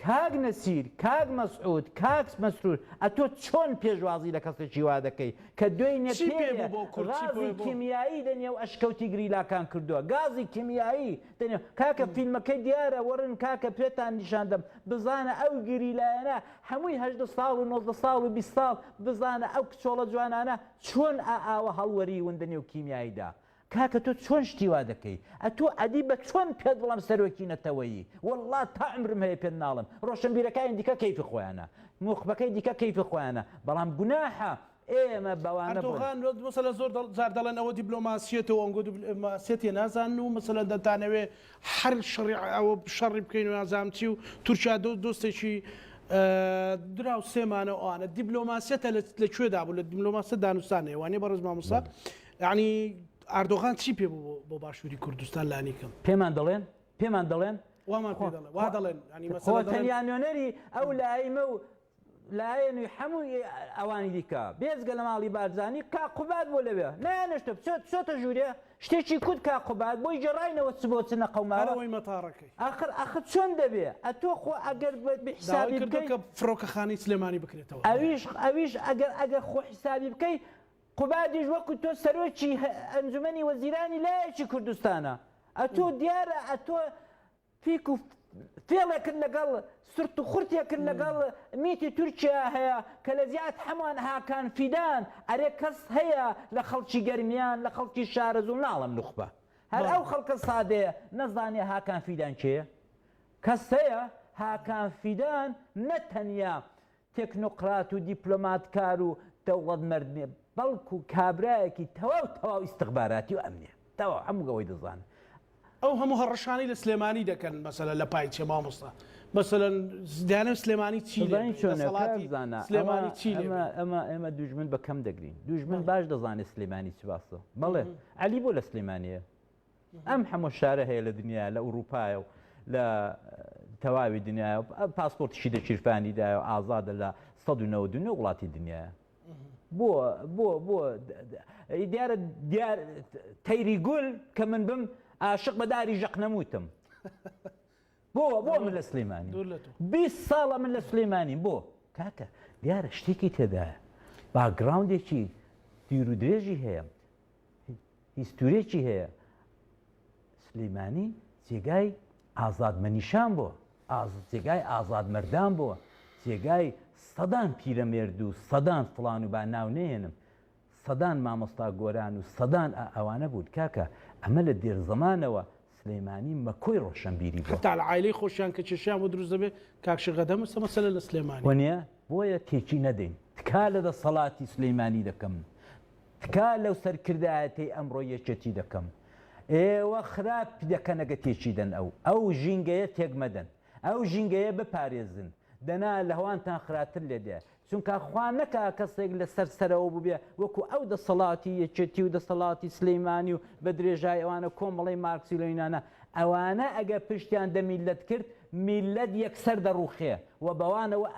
کاک نەسیر، کاک مەسعود، کاک مەسرور ئەتۆ چۆن پێشوازی لە کەسێکی وا دەکەی کە دوێنێ چی پێ بوو بۆ کورد چی غازی پێ بوو؟ کیمیایی لە نێو ئەشکەوتی گریلاکان کردووە گازی کیمیایی لە نێو کاکە فیلمەکەی دیارە وەڕن کاکە پێتان نیشان دەم بزانە ئەو گریلایانە هەمووی هەژدە ساڵ و نۆزدە ساڵ و بیست ساڵ بزانە ئەو کچۆڵە جوانانە چۆن ئا ئاوە هەڵوەریون لە نێو کیمیاییدا کاکە تۆ چۆن شتی وا دەکەی ئەتو ئەدی بە چۆن پێت بڵێم سەرۆکی نەتەوەیی وەڵا تا عەمرم هەیە پێت ناڵێم ڕۆشنبیرەکانی دیکە کەیفی خۆیانە نوخبەکەی دیکە کەیفی خۆیانە بەڵام گوناحە ئێمە بەوانە بۆن. ئەردۆغان وەک مەسەلەن زۆر جار دەڵێن ئەوە دیبلۆماسیەتە وە ئەنگۆ دیبلۆماسیەتیە نازانن و مەسەلەن دەتانەوێ هەر شەڕی ئەوە شەڕی بکەین و نازانم چی و تورکیا دۆست دۆستێکی دراوسێمانە و ئەوانە دیبلۆماسیەتە لە کوێدا بوو لە دیبلۆماسیەت دانوستانە وانیە بەڕێز مامۆستا یەعنی ئاردۆغان چی پێ بوو بۆ باشووری کوردستان لانیکەم؟ پێمان دەڵێن پێمان دەڵێن وامان پێ دەڵێن وا دەڵێن یانی مەسەلە خۆ دەڵێن تەنیا نوێنەری ئەو لایمە و لایەن و هەمووی ئەوانی دیکە بێجگە لە ماڵی بارزانی کاک قوباد بۆ لەوێ نەیانشتە بچێت چۆتە ژوورێ شتێکی کوت کاک قوباد بۆی گێڕاینەوە چ بۆ چ نەقەوماوە هەرەوەی مەتاڕەکەی ئاخر ئاخر چۆن دەبێ ئەتۆ خۆ ئەگەر بە بە داوای حسابی کردووە بکەی کە فڕۆکەخانەی سلێمانی بکرێتەوە ئەویش ئەویش ئەگەر ئەگەر خۆ حسابی بکەی قوبادیش وەکو تۆ سەرۆکی ئەنجومەنی وەزیرانی لایەکی کوردستانە ئەتۆ دیارە ئەتۆ فیک و فێڵێکت لەگەڵ سرت و خورتێکت لەگەڵ میتی تورکیا هەیە کە لە زیاد هەمووان هاکان فیدان ئەرێ کەس هەیە لە خەڵکی گەرمیان لە خەڵکی شارەزوو ناڵم نوخبە هەر ئەو خەڵکە سادەیە نەزانێ هاکان فیدان کێیە کەس هەیە هاکان فیدان نەتەنیا تێکنۆقرات و دیپلۆماتکار و دەوڵەتمەرد نیە، بەڵکو کابرایەکی تەواو تەواو ئیستخباراتی و ئەمنیە، تەواو هەموو ئەوەی دەزانن. ئەو هەموو هەڕەشانەی لە سلێمانی دەکەن مەسەلەن لە پای چیە مامۆستا؟ مەسەلەن دەیانەوێت سلێمانی چی لێ بێت؟ دەسەڵاتی سلێمانی چی لێ بێت؟ ئەمە ئێمە دوژمن بە کەم دەگرین، دوژمن باش دەزانێت سلێمانی چ باسە، بەڵێ عەلی بۆ لە سلێمانیە؟ ئەم حەمە شارە هەیە لە دنیا لە ئوروپایە و لە تەواوی دنیا پاسپۆرتشی دەچیرفانی دا و ئازادە لە 1990 وڵاتی دنیا بۆ بۆ بۆ دیارە دیار تەیری گول کە من بم عاشق بەداری ژەق نەموتم بۆ بۆ من لە سلێمانی بیست ساڵە من لە سلێمانیم بۆ کاکە دیارە شتێکی تێدایە باگراوندێکی دیر و درێژی هەیە هیستورێکی هەیە سلیمانی جێگای ئازاد مەنیشان بۆ جێگای ئازاد مردان بۆ جێگای سەدان پیرەمێرد و سەدان فلان و با ناو نێنم سەدان مامۆستا گۆران و سەدان ئا ئەوانە بوون کاکە ئەمە لە دێر زەمانەوە سلێمانی مەکۆی ڕۆشەنبیری بووە. حەتا عایلەی خۆشیان کە کێشەیان بۆ دروست دەبێ کاک شێخ ئەدەم ئەسە مەسەلە لە سلێمانی. ونیە بۆیە تێکی نەدەین. تکا لە دەسەڵاتی سلیمانی دەکەم تکا لەو سەرکردایەتەی ئەمڕۆی یەکێتی دەکەم ئێوە خراپ دەکەنە گە تێکی دەن ئەو ئەو ژینگەیە تێک مەدەن ئەو ژینگەیە بپارێزن دەنا لەوانتان خراتر لێدێ چونکا خوا نەکا کەسێک لە سەر سەرەوە بووبێ وەکو ئەو دەسەڵاتی یەکێتی و دەسەڵاتی سلیمانی و بە درێژایی ئەوانە کۆمەڵەی مارکسی و لینینانە ئەوانە ئەگەر پشتیان دە میللەت کرد میللەت یەکسەر دەڕووخێ و بەوانەوە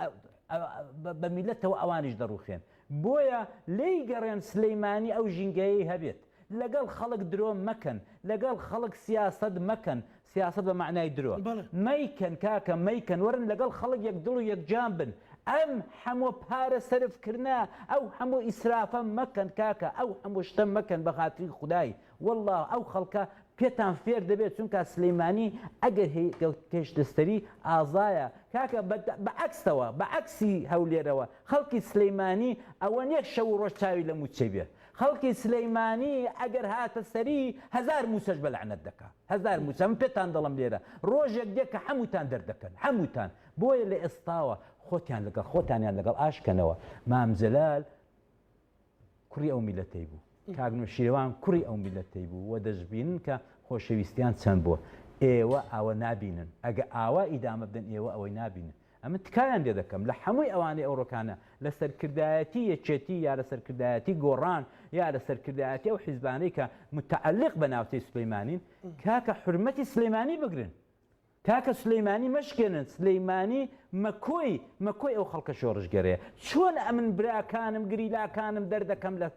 بە میللەتەوە ئەوانیش دەڕووخێن بۆیە لێی گەڕێن سلیمانی ئەو ژینگەیەی هەبێت لەگەڵ خەڵک درۆ مەکەن لەگەڵ خەڵک سیاسەت مەکەن سیاسەت بە مەعنای درۆ بەڵێ. مەیکەن کاکە مەیکەن وەرن لەگەڵ خەڵک یەک دڵ و یەک جان بن ئەم حەموە پارە سەرف کردنە ئەو حەموو ئیسرافە مەکەن کاکە ئەو حەموو شتە مەکەن بە خاتری خودای واللە ئەو خەڵکە پێتان فێر دەبێت چونکا سلیمانی ئەگەر هی گەوتکێشتستری ئازایە کاکە بە بە عەکسەوە بە عەکسی هەولێرەوە خەڵکی سلیمانی ئەوە نیە شەو و ڕۆژ چاوی لە موچەی بێ خەڵکی سلیمانی ئەگەر هاتە سەری هەزار موسەش بە لەعنەت دەکا هەزار موسە من پێتان دەڵم لێرە ڕۆژێک دێ کە حەموتان دەردەکەن حەموتان بۆیە لە ئێستاوە خۆتیان لەگەڵ خۆتانیان لەگەڵ ئاش کەنەوە مام جەلال کوڕی ئەو میلەتەی بوو کاک نوشیروان کوڕی ئەو میلەتەی بوو و دەشبینن کە خۆشەویستیان چەند بووە ئێوە ئاوە نابینن ئەگە ئاوا ئیدامە بدەن ئێوە ئەوەی نابینن ئەمن تکایان لێ دەکەم لە حەمووی ئەوانەی ئەوڕۆکانە لە سەرکردایەتی یەکێتی یا لە سەرکردایەتی گۆڕان یا لە سەرکردایەتی ئەو حیزبانەی کە متعلق بە ناوچەی سلیمانین کاکە حرمەتی سلیمانی بگرن کاکە سلیمانی مەشکێنن سلیمانی مەکۆی مەکۆی ئەو خەڵکە شۆڕشگەرەیە چۆن ئەمن براکانم گریلاکانم دەردەکەم لە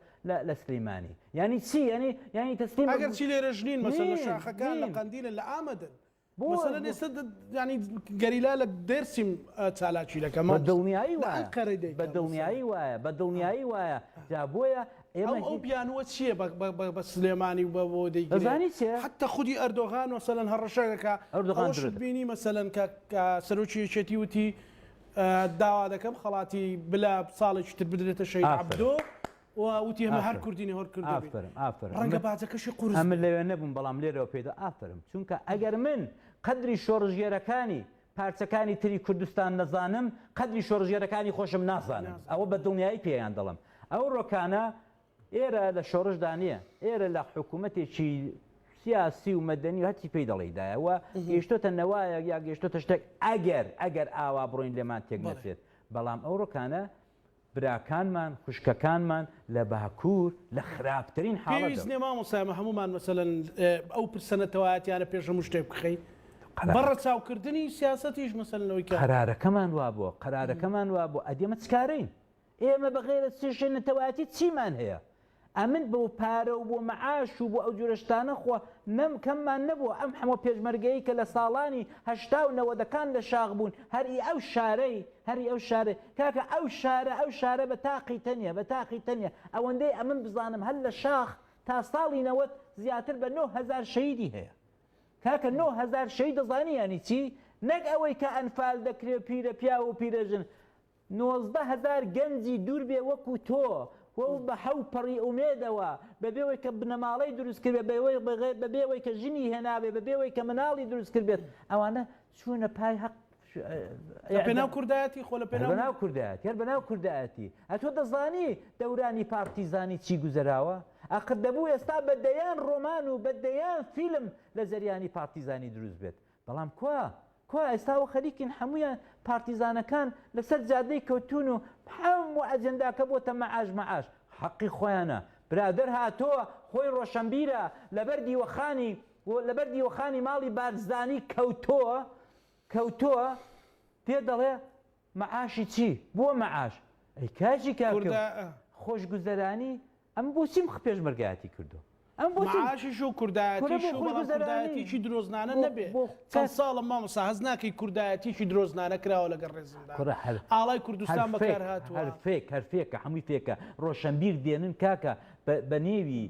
لە سلیمانی ینی چی ینی ینی تەسلیم ئەگەر چی لێرە ژنین مەسەن لە شاخەکان لە قەندیلە لە ئامەدن مەسەلەن ئێستا یانی گەریلا لە دێرسیم چالاکی دەکەن. بە دڵنیایی وایە بە دڵنیایی وایە بە دڵنیایی وایە جا بۆیە ئێمە ئەو بیانووە چییە بە سلێمانی و بە بۆ دەیزانی چێ حتا خودی ئەردۆغان وەسەلەن هەڕەشەکە ئەردۆغان بینی مەسەلەن کە سەرۆکی یەکێتی وتی داوا دەکەم خەڵاتی بلا ساڵێکی تر بدرێتە شەی عەبدۆ. و وتی ئەمە هەر کوردینە هەر کورد دەبێ. ئافەرم ئافەرم. ڕەنگە باجەکەشی قورس بێ. ئەمن لەوێ نەبووم بەڵام لێرەوە پێی دەڵێم ئافەرم چونکە ئەگەر من قەدری شۆڕشگێرەکانی پارچەکانی تری کوردستان نەزانم قەدری شۆڕشگێرەکانی خۆشم نازانم ئەوە بە دڵنیایی پێیان دەڵێم. ئەو ڕۆکانە ئێرە لە شۆڕشدا نییە ئێرە لە حکوومەتێکی سیاسی و مەدەنی و هەرچی پێی دەڵێی دایە و گەیشتۆتە نەوایەک یا گەیشتۆتە شتێک ئەگەر ئەگەر ئاوا بڕۆین لێمان تێک نەچێت بەڵام ئەو ڕۆکانە براکانمان خوشکەکانمان لە باکور لە خراپترین حاڵەتدان. پێویست نیە مامۆستا ئێمە هەموومان مەسەلەن ئەو پرسە نەتەوایەتیانە پێش هەموو شتێک بخەین بە ڕەچاو کردنی سیاسەتیش مەسەلەن ئەوەی کە. قەرارەکەمان وابووە قەرارەکەمان وابووە ئەدی ئێمە چ کارەین ئێمە بەغەیرەز چێشێ نەتەوایەتی چیمان هەیە ئەمن بۆ پارە و بۆ مەعاش و بۆ ئەو جورە شتانە خۆ نەم کەممان نەبووە ئەم حەمە پێشمەرگەیەی کە لە ساڵانی هەشتا و نەوەدەکان لە شاخ بوون هەر ئی ئەو شارەی هەر ئی ئەو شارەی کاکە ئەو شارە ئەو شارە بە تاقی تەنیا بە تاقی تەنیا ئەوەندەی ئەمن بزانم هەر لە شاخ تا ساڵی نەوەد زیاتر بە نۆ هەزار شەهیدی هەیە کاکە نۆ هەزار شەهید دەزانی یانی چی نەک ئەوەی کە ئەنفال دەکرێ پیرە پیاو و پیرە ژن نۆزدە هەزار گەنجی دوور بێ وەکو تۆ و بە حەو پەڕی ئومێدەوە، بەبێ ئەوەی کە بنەماڵەی دروست کردبێت، بەبێ ئەوەی کە ژنی هێنابێت، بەبێ ئەوەی کە مناڵی دروست کردبێت، ئەوانە چوونە پای هەق، لە پێناو کوردایەتی، خۆ لە پێناو. هەر بەناو کوردایەتی، هەر بەناو کوردایەتی، ئەتۆ دەزانی دەورانی پارتیزانی چی گوزەراوە؟ ئاخر دەبوو ئێستا بە دەیان ڕۆمان و بە دەیان فیلم لە جەریانی پارتیزانی دروست بێت، بەڵام کوا؟ کوا ئێستا و خەریکین حەموویان پارتیزانەکان لەسەر جادەی کەوتوون و حەموو ئەجێنداکە بۆتە مەعاش مەعاش. حەقی خۆیانە. برادەر هاتۆ خۆی ڕۆشەنبیرە لەبەر دیوەخانی و لەبەر دیوەخانی ماڵی بارزانی کەوتۆ کەوتۆ پێ دەڵێ مەعاشی چی؟ بۆ مەعاش؟ ئەی کاجی کاکە خۆشگوزەرانی ئەمە بۆچی مخ پێشمەرگایەتی کردووە؟ ئەمە بۆچی. معاشیش و کوردایەتیش و بەڵام کوردایەتیەکی درۆزنانە نەبێ چەند ساڵە مامۆستا هەست ناکەی کوردایەتیەکی درۆزنانە کراوە لەگەڵ ڕێزمدا ئاڵای کوردستان بەکار هاتووە هەر فێک هەر فێکە هەمووی فێکە ڕۆشەنبیر دێنن کاکە بە نێوی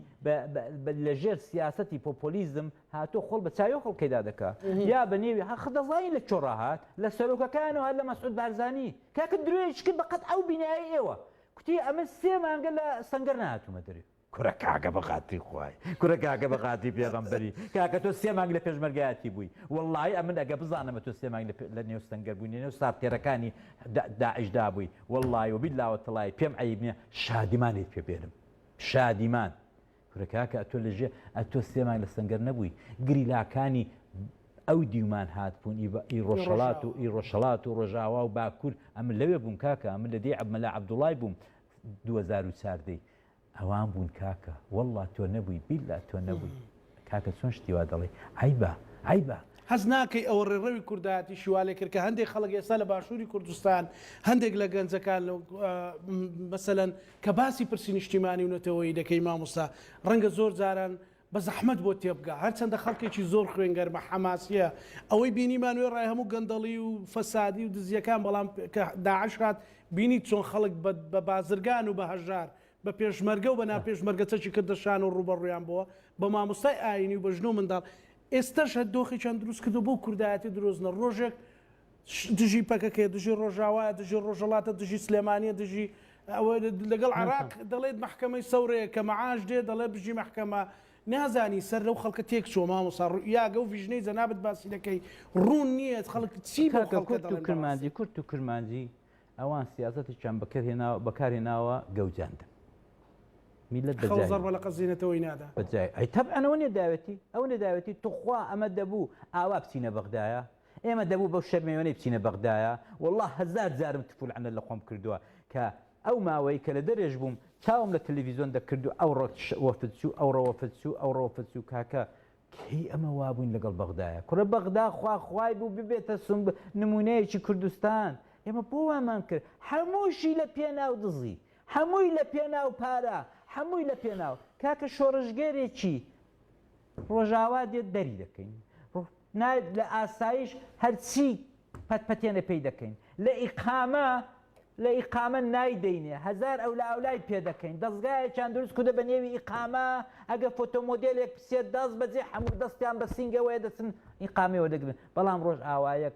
لە ژێر سیاسەتی پۆپۆلیزم هاتۆ خۆڵ بە چاوی خەڵکەیدا دەکا یا بە نێوی هەخ دەزانین لە چۆڕا هات لە سەرۆکەکانەوە هەر لە مەسعود بارزانی کاکە درۆیش کرد بەقەد ئەو بینایە ئێوە کوتی ئەمن سێ مانگە لە سەنگەر نەهاتوومە دەرێ. کورە کاکە بەخاتری خوای کورە کاکە بەخاتری پێغەمبەری کاکە تۆ سێ مانگ لە پێشمەرگایەتی بووی وەڵاهی ئەمن ئەگە بزانم تۆ سێ مانگ لە نێو سەنگەر بووی لەنێو سارتێرەکانی داعشدا بووی وەڵاهی وەبیللاوەتەڵای پێم عەیب نیە شادیمانیت پێ بێنم شادیمان کورە کاکە ئەتۆ لە ژێ ئەتۆ سێ مانگ لە سەنگەر نەبووی گریلاکانی ئەو دیومان هاتبوون ئی بە ئی ڕۆژهەڵات و ئی ڕۆژهەڵات و ڕۆژاوا و باکوور ئەمن لەوێ بووم کاکە ئەمن لە دێی عەب مەلا عەبدوڵای بووم دوو هەزار و چار دەی ئەوان بوون کاکە وەڵڵا تۆ نەبووی بیللا تۆ نەبووی کاکە چۆن شتی وا دەڵێی عەیبە عەیبە. هەست ناکەی ئەوە ڕێڕەوی کوردایەتیشی وا لێکرد کە هەندێک خەڵک ئێستا لە باشووری کوردستان هەندێک لە گەنجەکان مەسەلەن کە باسی پرسی نیشتیمانی و نەتەوەیی دەکەی ماموستا ڕەنگە زۆر جاران بە زەحمەت بۆت تێبگا هەرچەندە خەڵکێکی زۆر خوێنگەرمە حەماسیە ئەوەی بینیمان وێڕای هەموو گەندەڵی و فەسادی و دزیەکان بەڵام کە داعش هات بینیت چۆن خەڵک بە بازرگان و بە هەژار بە پێشمەرگە و بە ناپێشمەرگە چەکی کردە شان و ڕووبەڕوویان بۆوە بە ماموستای ئاینی و بە ژن و منداڵ ئێستەش هەر دۆخێکیان دروست کردوە بۆ کوردایەتی درۆزنە ڕۆژێک دژی پەکەکەیە دژی ڕۆژاوایە دژی ڕۆژەڵاتە دژی سلێمانیە دژی ئەوە لەگەڵ عراق دەڵێت محکمەی سەورەیە کە مەعاش دێ دەڵێ بژی محکمە نازانی سەر لەو خەڵکە تێک چۆ مامۆسا ڕوئیاگە و ڤژنەی جەنابەت باسی دەکەی ڕوون نییە خەڵک چی بە کورد و کرمانجی کورد و کرمانجی ئەوان سیاستێکیان بەکرهێناوە بەکارهێناوە گەوجاندن میلەت بەزار بە لە قەزیینەتەوەی نادا بەجای ئەی تەبعەنەوە نێداوێتی ئەو نێداوێتی توخوا ئەمە دەبوو ئاوا بچینە بەغدایە ئێمە دەبوو بەو شەرمەیۆنەی بچینە بەغدایە وەڵا هەزار جارم تف و لەعنەت لە خۆم کردووە کە ئەو ماوەی کە لە دەرێش بووم چاوم لە تەلەفیزۆن دەکرد و ئەو ڕۆ وەفد چوو ئەو ڕۆ وەفد چوو ئەو ڕۆ وەفد چوو کاکە کەی ئەمە وابووین لەگەڵ بەغدایە کوڕە بەغدا خوا خوای بوو ببێتە سم نمونەیەکی کوردستان ئێمە بۆ وامان کرد هەمووشی لە پێناو دزی هەمووی لە پێناو پارە هەمووی لە پێناو کاکە شۆڕشگێرێکی ڕۆژاوا دێت دەری دەکەین نایەت لە ئاسایش هەرچی پەت پەتێنە پێی دەکەین لە ئیقامە لە ئیقامە نایدەینێ هەزار ئەو لە ئەولای پێ دەکەین دەستگایەکیان دروست کودە بە نێوی ئیقامە ئەگە فۆتۆمۆدلێک پسێت داست بەجێ هەموو دەستیان بە سنگەوەیە دەچن ئیقامەوە دەگرن بەڵام ڕۆژ ئاوایەک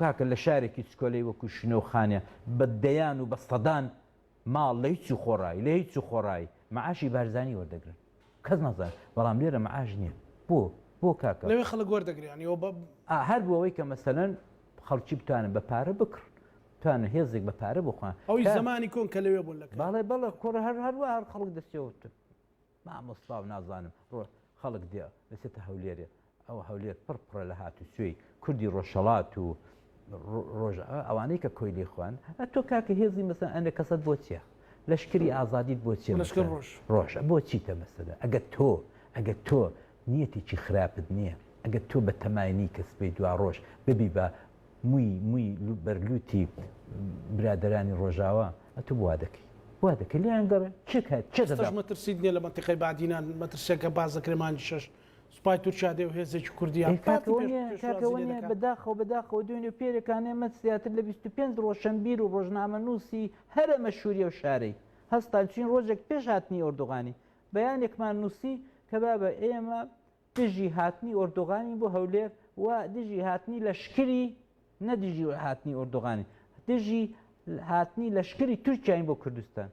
کاکە لە شارێکی چکۆلەی وەکوو شنۆ و خانێ بە دەیان و بە سەدان ماڵ لە هیچ و خۆڕایی لە هیچ و خۆڕایی مەعاشی بارزانی وەردەگرن کەس نازانێت بەڵام لێرە مەعاش نییە بۆ بۆ کاکە؟ لەوێ خەڵک وەردەگرێ یانی ئەوە بە ئا هەر بۆ ئەوەی کە مەسەلەن خەڵکی بتوانن بە پارە بکڕن بتوانن هێزێک بە پارە بخوان ئەوی کە زەمانی کۆن کە لەوێ بوون لە کە باڵێ بەڵێ کوڕە هەر هەر وا هەر خەڵک دەستێوە مامۆستا و نازانم ڕۆ خەڵک دێ دەچێتە هەولێرێ ئەوە هەولێر پڕ پڕە لە هاتوچۆی کوردی ڕۆژهەڵات و ڕۆژ ئەوانەی کە کۆیلی خوان تۆ کاکە هێزی مەسەن ئەنە کەسەت بۆ چیە لەشکری ئازادیت بۆ چی ڕۆژ ڕۆژ بۆ چیتە مەسەدا ئەگە تۆ ئەگە تۆ نیەتێکی خراپت نیە ئەگەر تۆ بە تەمای نی کە سبەی دواڕۆژ ببی بە موی موی بەر لوتی برادەرانی ڕۆژاوا ئەتو وا دەکەی وا دەکەی لێیان گەڕێ کێ کات کێ دەدا. ئێستەش مەترسیت نیە لە مەنتیقەی بادینان مەترسیەکە باس دەکرێ مانگی شەش سوپای تورکیا دێ و هێزێکی کوردیان کاتی پێش ئەوە نیە کاتی ئەوە نیە بەداخەوە بەداخەوە دوێنێ و پێرێکانێ مەت زیاتر لە بیست و پێنج ڕۆشەنبیر و ڕۆژنامەنوسی هەرە مەشهوری ئەو شارەی هەستان چوین ڕۆژێک پێش هاتنی ئۆردوغانی بەیانێکمان نووسی کە بابە ئێمە دژی هاتنی ئۆردوغانین بۆ هەولێر و دژی هاتنی لەشکری نە دژی هاتنی ئۆردوغانین دژی هاتنی لەشکری تورکیاین بۆ کوردستان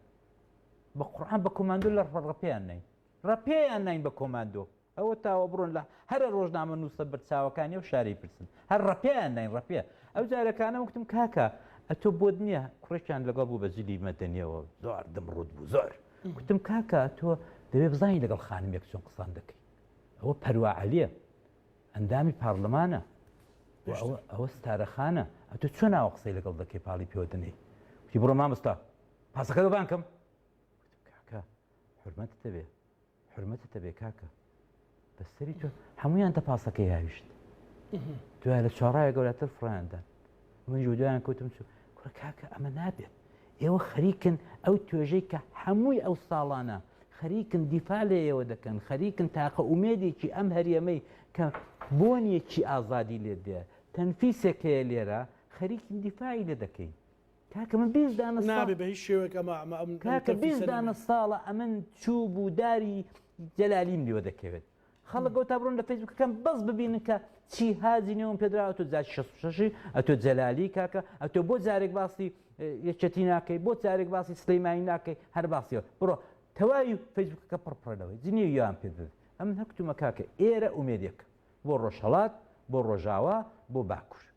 بە قڕان بە کۆماندۆ لە ڕەپیان نین ڕەپیان نین بە کۆماندۆ ئەوە تاوە بڕۆن لە هەرە ڕۆژنامە نووسە بەرچاوەکانی و شاری پرسن هەر ڕپیان نین ڕپێ ئەو جارەکانە وتم کاکە ئەتۆ بۆت نییە کوڕێکیان لەگەڵ بوو بە جلی مەدەنیەوە زۆر دم ڕوت بوو زۆر وتم کاکە تۆ دەبێ بزانین لەگەڵ خانمێک چۆن قسان دەکەی ئەوە پەرواعلیە ئەندامی پارلمانە ئەوە ستارەخانە ئەتو چۆن ناوە قسەی لەگەڵ دەکەی پاڵی پێوەدنەی وتی بڕۆ مامستا پاسەکە بانکەم حرمەت دەبێ حورمەتت هەبێ کاکە بەستەری تۆ هەمویان تە پاسەکەی هاویشت دوای لە چاڕایە گەورەتر فڕیاندا منیش دوایان کەوتم چوو کوڕە کاکە ئەمە نابێت ئێوە خەریکن ئەو توێژەی کە هەمووی ئەو ساڵانە خەریکن دیفا لە ئێوە دەکەن خەریکن تاقە ئومێدێکی ئەم هەرێمەی کە بۆنیەکی ئازادی لێ دێ تەنفیسێک هەیە لێرە خەریکن دیفاعی لێ دەکەین کاکە من بیست دانە ساڵ نابێ بە هیچ شێوەیەک ئەمە ئەمە ئەم ئەم کاکە تەفی بیست سەری دانە نەبێ. ساڵە ئەمن چوو بوو داری جەلالیم لێوە دەکەوێت خەڵک گەوتا بڕۆن لە فەیسبوکەکەم بەس ببینن کە چی هازی نێوم پێدرا ئەتۆ جاج 66 ئەتۆ جەلالی کاکە ئەتۆ بۆ جارێک باسی اه، یەکێتی ناکەی بۆ جارێک باسی سلەیمانی ناکەی هەر باسیەوە بڕۆ تەواوی فەیسبوکەکە پڕپڕەوەی جنێو یان پێ بێت ئەمن هەکتومە کاکە ئێرە ئومێدێک بۆ ڕۆژهەڵات بۆ ڕۆژاوا بۆ باکوور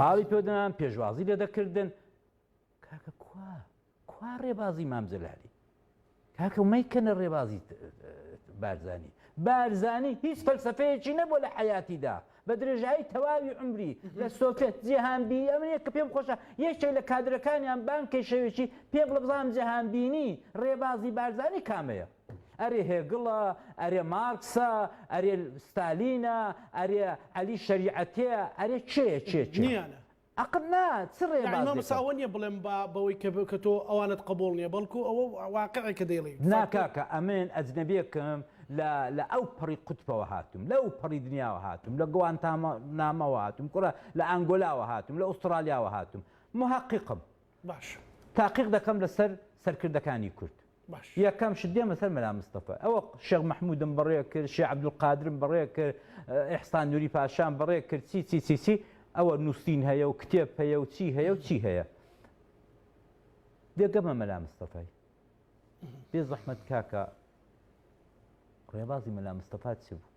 پاڵی پێ دەنان پێشوازی لێ دەکردن کاکە کوا کوا ڕێبازی مام جەلالی کاکە مەیکەنە ڕێبازی بارزانی بارزانی هیچ فەلسفەیەکی نەبوو لە حیاتیدا بە درێژایی تەواوی عمری لە سۆفێت جیهانبی ئەمنە کە پێم خۆشە یەکێک لە کادرەکانیان بانکەی شەوێکی پێ بڵە بزانام جیهانبینی ڕێبازی بارزانی کامەیە ئەرێ هێگڵە، ئەرێ مارکسە، ئەرێ ستالینە، ئەرێ عەلی شەریعەتێ، ئەرێ کێیە کێ کێ؟ نییانە. ئەق نا، چ نا ڕێبازێکە؟ مامۆستا ئەوە نییە بڵێم با بەوەی کە کە تۆ ئەوانت قبووڵ نییە، بەڵکوو ئەوە واقعێک کە دەیڵێی. نا فەرقی. کاکە، ئەمن ئەجنەبییەکم، لە لە ئەو پەڕی قوتپەوە هاتووم، لە ئەو پەڕی دنیاوە هاتووم، لە گوانتانامۆوە هاتووم، کورە لە ئانگۆلاوە هاتووم، لە ئوستڕالیاوە هاتووم. موهەقیقم. باش. تاقیق دەکەم لەسەر سەرکردەکانی کورد. باش. یەکەم شت دێمە سەر مەلا مستەفا. ئەوە شێخ مەحمودم بەڕێ کرد، شێخ عەبدولقادرم بەڕێ کرد، ئیحسان نوری پاشام بەڕێ کرد چی چی چی چی ئەوە نووسین هەیە و کتێب هەیە و چی هەیە و چی هەیە. دێ گەمە مەلا مستەفای. بێ زەحمەت کاکە ڕێبازی مەلا مستەفا چ بوو؟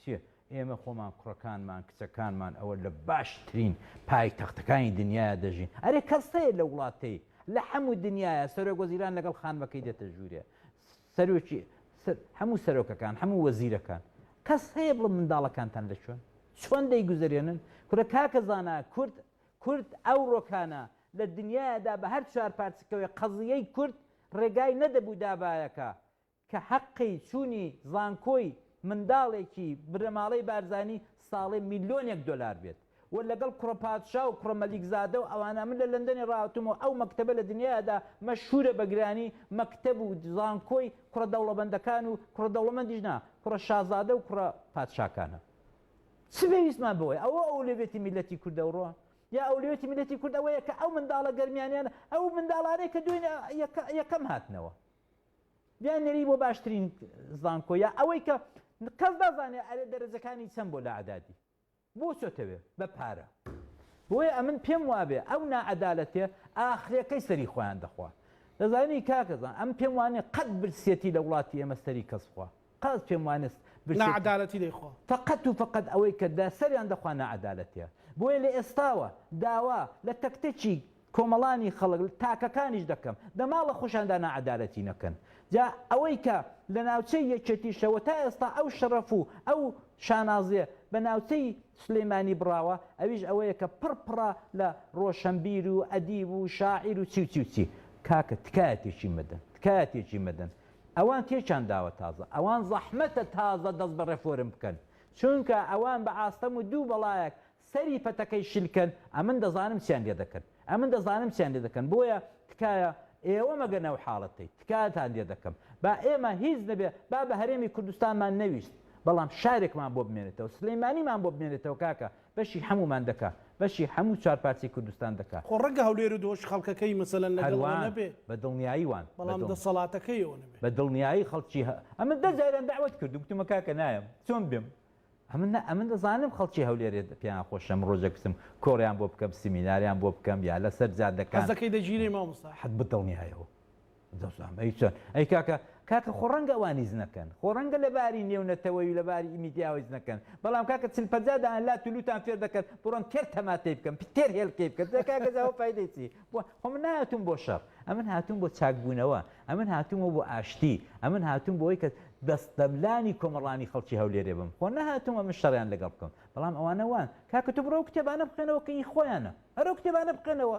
سێ، ئێمە خۆمان، کوڕەکانمان، کچەکانمان ئەوە لە باشترین پایتەختەکانی دنیایە دەژین، ئەرێ کەس هەیە لە وڵاتەی لە حەموو دنیایە سەرۆک وەزیران لەگەڵ خانمەکەی دێتە ژوورێ، سەرۆکی حەموو سەرۆکەکان، حەموو وەزیرەکان، کەس هەیە بڵێ منداڵەکانتان لە کوێن؟ چۆن دەیگوزەرێنن؟ کورە کاکە زانا کورد کورد ئەوڕۆکانە لە دنیایەدا بە هەر چوار پارچکەوەی قەزییەی کورد ڕێگای نەدەبوو دابایەکە کە حەقی چوونی زانکۆی منداڵێکی بنەماڵەی بارزانی ساڵێ میلۆنێک دۆلار بێت و لەگەڵ کوڕە پادشا و کوڕە مەلیکزادە و ئەوانە من لە لەندەنێ ڕاهاتووم و ئەو مەکتەبە لە دنیایادا مەشهوورە بە گرانی مەکتەب و زانکۆی کوڕە دەوڵەمەندەکان و کوڕە دەوڵەمەندیش نا کوڕە شازادە و کوڕە پادشاکانە چ پێویستمان بەوەیە ئەوە ئەولەوێتی میلەتی کورد ئەوڕۆ یا ئەولەوێتی میلەتی کورد ئەوەیە کە ئەو منداڵە گەرمیانیانە ئەو منداڵانەی کە دوێنێ یەکەم هاتنەوە بیان نێری بۆ باشترین زانکۆ یا ئەوەی کە کەس دازانێ ئەرێ دەرەجەکانی چەند بۆ لە عدادی بۆ چۆتەوێ بە پارە بۆیە ئەمن پێم وابێ ئەو نائەدالەتێ ئاخرەکەی سەری خۆیان دەخوا دەزانی کاکەزان ئەم پێم وانێ قەت برسێتی لە وڵاتی ئێمە سەری کەس خوا قاز پێم وانست برسێتی. ناعەدالەتی دەی خۆ. فەقەت و فەقەت ئەوەی کە دە سەریان دە خوا ناعەدالەتیە. بۆیە لە ئێستاوە داوا لە تەک تەکی کۆمەڵانی خەڵک تاکەکانیش دەکەم دە ماڵە خۆشیاندا ناعەدالەتی نەکەن. جا ئەوەی کە لە ناوچەی یەکێتیشە و تا ئێستا ئەو شەڕەف و ئەو شانازیە بە ناوچەی سلێمانی بڕاوە ئەویش ئەوەیە کە پڕ پڕە لە ڕۆشەنبیر و ئەدیب و شاعیر و چی و چی و چی. کاکە تکایە تێکی مەدەن تکایە تێکی مەدەن ئەوان تێکیان داوە تازە ئەوان زەحمەتە تازە دەست بە ڕێفۆرم بکەن چونکە ئەوان بە ئاستەم و دوو بەڵایەک سەری پەتەکەی شل کەن ئەمن دەزانم چیان لێ دەکەن ئەمن دەزانم چیان لێ دەکەن بۆیە تکایە ئێوە مەگەنە ئەو حاڵەتەی تکاتان لێ دەکەم با ئێمە هیچ نەبێ با بە هەرێمی کوردستانمان نەویست بەڵام شارێکمان بۆ بمێنێتەوە سلێمانیمان بۆ بمێنێتەوە کاکە بەشی حەمومان دەکا بەشی حەمو چوار پارچەی کوردستان دەکا. خۆ ڕەنگە هەولێرو دهۆک خەڵکەکەی مەسەلەن لەگەڵ ئەوە هەروان نەبێ بە دڵنیایی وان بە بەڵام دڵ دەسەڵاتەکەی ئەوە نەبێ. بە دڵنیایی خەڵکی هە ئەمن دە جاریان دەعوەت کردو گوتمە کاکە نایەم چۆن بێم ئەمن نا ئەمن دەزانم خەڵکی هەولێرێ پێیان خۆشە من ڕۆژێک بچم کۆڕیان بۆ بکەم سیمیناریان بۆ بکەم یا لەسەر جادەکان. قەزەکەی دەگیرێی مامۆستا؟ حەک بە دڵنیایەوە دڵسۆزان ئەی چۆن ئەی کاکە کاکە خۆ ڕەنگە ئەوان هیچ نەکەن خۆ ڕەنگە لە باری نێونەتەوەی و لە باری میدیاوە هیچ نەکەن بەڵام کاکە چل پەنجا دانە لات و لووتان فێر دەکەن بڕۆن تێر تەماتەی بکەن پت تێر هێلکەی بکەن جا کاکە جا ئەوە فایدەی چی بۆ خۆ من نهاتووم بۆ شەڕ ئەمن هاتووم بۆ چاکبوونەوە ئەمن هاتوومەوە بۆ ئاشتی ئەمن هاتووم بۆ ئەوەی کە دەستەملانی کۆمەڵانی خەڵکی هەولێرێ بم خۆ نەهاتووم ئەمن شەڕیان لەگەڵ بکەم بەڵام ئەوانە وان کاکە تۆ بڕۆ ئەو کتێبانە بخوێنەوە کە ئی خۆیانە هەر ئەو کتێبانە بخوێنەوە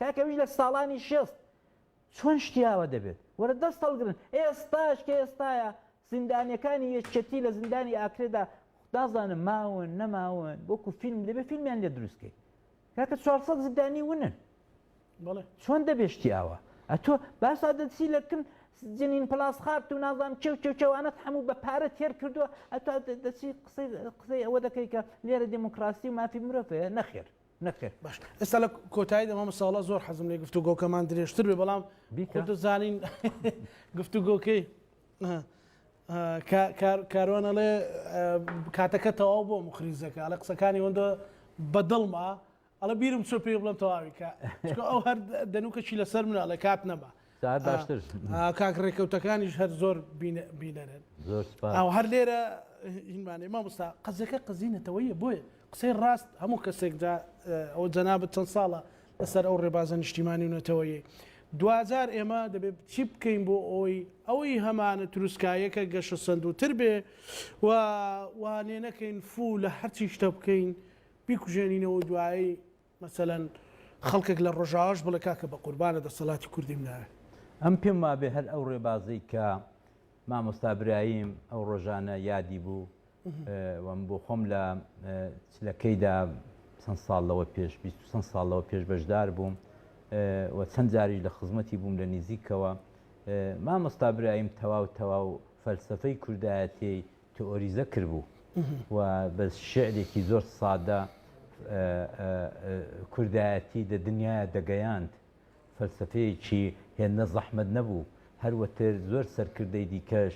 کاکە ویش لە ساڵانی شێست چۆن شتی ئاوا دەبێت وەرە دەست هەڵگرن ئێستاش کە ئێستایە زیندانیەکانی یەکێتی لە زیندانی ئاکرێدا نازانم ماون نەماون وەکو فیلم دەبێت فیلمیان لێ دروستکەی کاکە 400 زیندانی ونن چۆن دەبێت شتی ئاوا ئەتۆ باسا دەچی لە کن جنین پلاس خارت و نازام چێو چێو چێوانەت هەموو بە پارە تێر کردووە ئەتو دەچی قسەی قسەی ئەوە دەکەی کە لێرە دموکراسی و مافی مرۆڤەیە نەخێر نەخێر. باش ئێستا لە کۆتاییدا مامۆستا وەڵا زۆر حەزم لێ گفتوگۆکەمان درێژتر بێ بەڵام خۆ دەزانین گفتوگۆکەی کاروان ئەڵێ کاتەکە تەواو بۆ مخریزەکە ئەڵە قسەکانی ئەوەندە بەدڵما ئەڵە بیرم چۆ پێ بڵم تەواوی کە ئەو هەر دەنوکەشی لەسەر منە لە کات نەما ساعت باشتر کاک ڕێکەوتەکانیش هەر زۆر بینەرن زۆر ئەو هەر لێرە هینمانێ مامۆستا قەزەکە قەزینەتەوەیە بۆیە قسەی ڕاست هەموو کەسێکدا ئەو جەنابەت چەند ساڵە لەسەر ئەو ڕێبازە نیشتیمانی و نەتەوەیە دوجار ئێمە دەبێت چی بکەین بۆ ئەوی ئەوەی هەمانە تروسکایەکە گەشە سندوتر بێ و وانێ نەکەین فوو لە هەرچی شتە بکەین بیکوژێنینەوە دوایی مەسەلەن خەڵکێک لە ڕۆژاواش بڵێ کاکە بەقوربانت دەسەڵاتی کوردیم ناوێ. ئەم پێم وابێ هەر ئەو ڕێبازەی کە مامۆستا برایم ئەو ڕۆژانە یادی بوو و من بۆ خۆم لە چلەکەیدا چەند ساڵ لەوە پێش بیست و چەند ساڵ لەوە پێش بەشدار بووم و چەند جاریش لە خزمەتی بووم لە نزیکەوە مامۆستا برایم تەواو تەواو فەلسەفەی کوردایەتیی تئۆریزە کردبوو و بە شعرێکی زۆر سادە کوردایەتی دە دنیاە دەگەیاند فەلسەفەیەکی هێندە زەحمەت نەبوو هەروەتر زۆر سەرکردەی دیکەش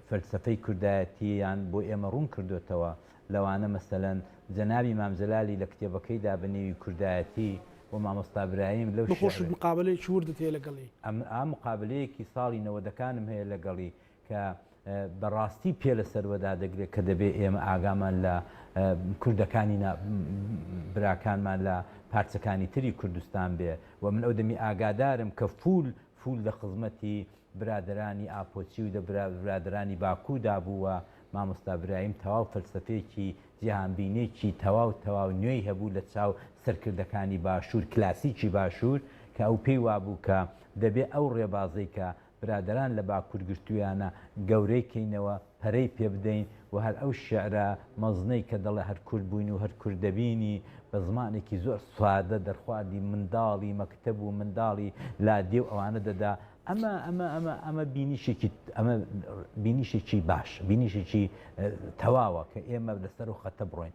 فەلسەفەی کوردایەتییان بۆ ئێمە ڕوون کردوێتەوە لەوانە مەسەەن جەناوی مامجللالی لە کتێبەکەی دا بە نێوی کوردایەتی و مامۆستا برایم لەو خۆش مقابلەی چوردت هەیە لەگەڵی ئەم مقابلەیەکی ساڵی نەوەدەکانم هەیە لەگەڵی کە بە ڕاستی پێ لە سەروە دادەگرێت کە دەبێت ئێمە ئاگامان لە کوردەکانی نا براکانمان لە پارچەکانی تری کوردستان بێ و من ئەو دەمی ئاگادارم کە فول فول لە خزمەتی برادرانی ئاپۆچی و دە برادرانی باکوو دابوو و مامۆستا برایم تەواو فەلسەفەیەکی جیهانبینێکی تەواو تەواو نوێی هەبوو لە چاو سەرکردەکانی باشوور کلاسیکی باشوور کە ئەو پێی وابوو کە دەبێ ئەو ڕێبازەی کە برادەران لە باکور گرتویانە گەورەی کەینەوە پەرەی پێ بدەین و هەر ئەو شیعرە مەزنەی کە دەڵێ هەر کورد بووین و هەر کورد دەبینی بە زمانێکی زۆر سادە دەرخواردی منداڵی مەکتەب و منداڵی لادێ و ئەوانە دەدا ئەمە ئەمە ئەمە ئەمە بینیشێکی ئەمە بینیشێکی باش بینیشێکی تەواوە کە ئێمە لەسەر و خەتە بڕۆین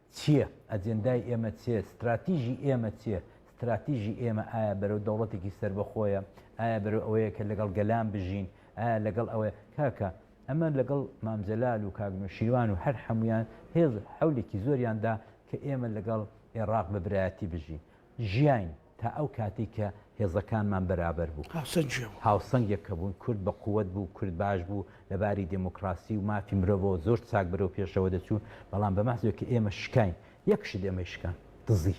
چییە؟ ئەجێندای ئێمە چێ؟ ستراتیژی ئێمە چییە؟ ستراتیژی ئێمە ئایا بەرەو دەوڵەتێکی سەربەخۆیە؟ ئایا بەرەو ئەوەیە کە لەگەڵ گەلان بژین؟ ئایا لەگەڵ ئەوەیە؟ کاکە، ئەمە لەگەڵ مام جەلال و کاک نەوشیروان و هەر هەموویان هێز حەولێکی زۆریان دا کە ئێمە لەگەڵ ئێڕاق بە برایەتی بژین. ژیاین تا ئەو کاتەی کە هێزەکانمان بەرابەر بوو. هاوسەنگ کێ بوو؟ هاوسەنگ یەک کە بوون، کورد بە قوت بوو، کورد باش بوو، لە باری دێمۆکڕاسی و مافی مرۆڤەوە زۆر چاک بەرەو پێشەوە دەچوون، بەڵام بە مەحزەوەی کە ئێمە شکاین، یەک شت ئێمەی شکاند، دزی،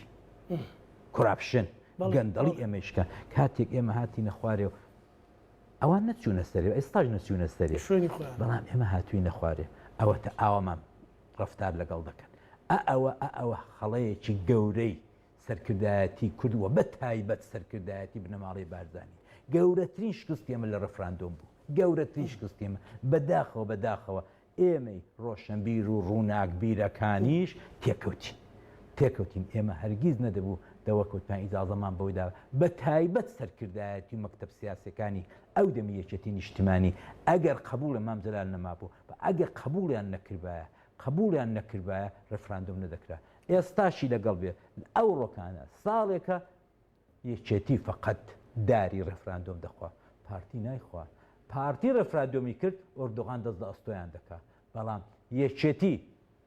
کۆراپشن، گەندەڵی ئێمەی شکاند. کاتێک ئێمە هاتینە خوارێ و ئەوان نەچوونە سەرێ و ئێستاش نەچوونە سەرێ، بەڵام ئێمە هاتووینە خوارێ، ئەوەتە ئاوامان ڕەفتار لەگەڵ دەکەن. ئە ئەوە ئە ئەوە خەڵەیەکی گەورەی. سەرکردایەتی کورد و بە تایبەت سەرکردایەتی بنەماڵەی بارزانی گەورەترین شکستی ئێمە لە ڕفراندۆم بوو گەورەترین شکستی ئێمە بەداخەوە بەداخەوە ئێمەی ڕۆشنبیر و ڕووناکبیرەکانیش تێکەوتین تێکەوتین ئێمە هەرگیز نەدەبوو دەوەکوتمان ئیجازەمان بەودا بە تایبەت سەرکردایەتی و مەکتب سیاسەکانی ئەو دەمی یەکێتی نیشتمانی ئەگەر قبولە مام جلال نەمابوو بە ئەگەر قبولیان نەکردایە قبولیان نەکردایە ڕفراندۆم نەدەکرا ئێستاشی لەگەڵ بێ ئەوڕۆکانە ساڵێکە یەکێتی فەقەت داری ڕێفراندۆم دەخوا پارتی نایخوا پارتی ڕێفرادۆمی کرد ئۆردوغان دەست لە ئەستۆیان دەکا بەڵام یەکێتی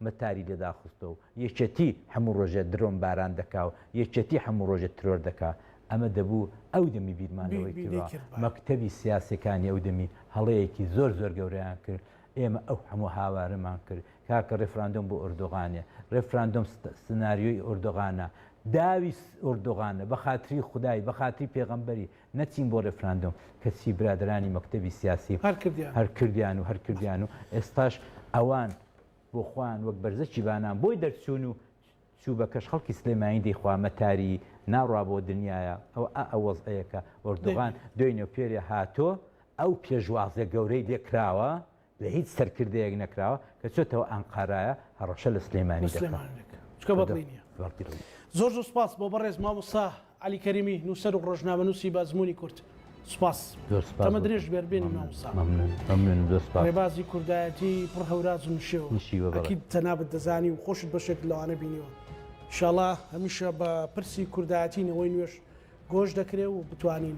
مەتاری لێداخستە و یەکێتی هەموو ڕۆژێ درۆن باران دەکا و یەکێتی هەموو ڕۆژێ ترۆر دەکا ئەمە دەبوو ئەو دەمی بیرمانەوەی کرد مەکتەبی سیاسەکانی ئەو دەمی هەڵەیەکی زۆر زۆر گەوریان کرد ئێمە ئەو هەموو هاوارەمان کرد کاکە ڕێفراندۆم بۆ ئۆردۆغانێ ڕێفراندۆم سناریۆی ئۆردۆغانە داوی ئۆردۆغانە بە خاتری خودای بە خاتری پێغەمبەری نەچین بۆ ڕێفراندۆم کەچی برادرانی مەکتەبی سیاسی هەر کردیان و هەر کردیان و ئێستاش ئەوان بۆ خۆیان وەک بەرزەکی بانان بۆی دەرچوون و چوو بە کەش خەڵکی سلێمانی دەی خوا مەتاری ناڕا بۆ دنیایە ئەوە ئا ئەو وەزعەیە کە ئۆردوغان دوێی نێوپێرێ هاتۆ ئەو پێشوازە گەورەی لێ کراوە لە هیچ سەرکردەیەک نەکراوە کە چۆتەوە ئانقارایە هەڕەشە لە سلێمانی دەکا. سلێمانی دەکا چکە بەدڵی نیە. بەدڵی نیە. زۆر زۆر سوپاس بۆ بەڕێز مامۆستا. عەلی کەریمی نووسەر و ڕۆژنامەنووسی بازموونی کورد سوپاس زۆر سوپاس تەمە درێژ بێت بێنی مامۆستا مەمنون مەمنونم زۆر سوپاس ڕێبازی کوردایەتی پڕ هەوراز و نشێوە نشیوە بەڕێز ئەکید جەنابت دەزانی و خۆشت بەشێکت لەوانە بینیوە انشاءاللە هەمیشە بە پرسی کوردایەتی نەوەی نوێش گۆش دەکرێ و بتوانین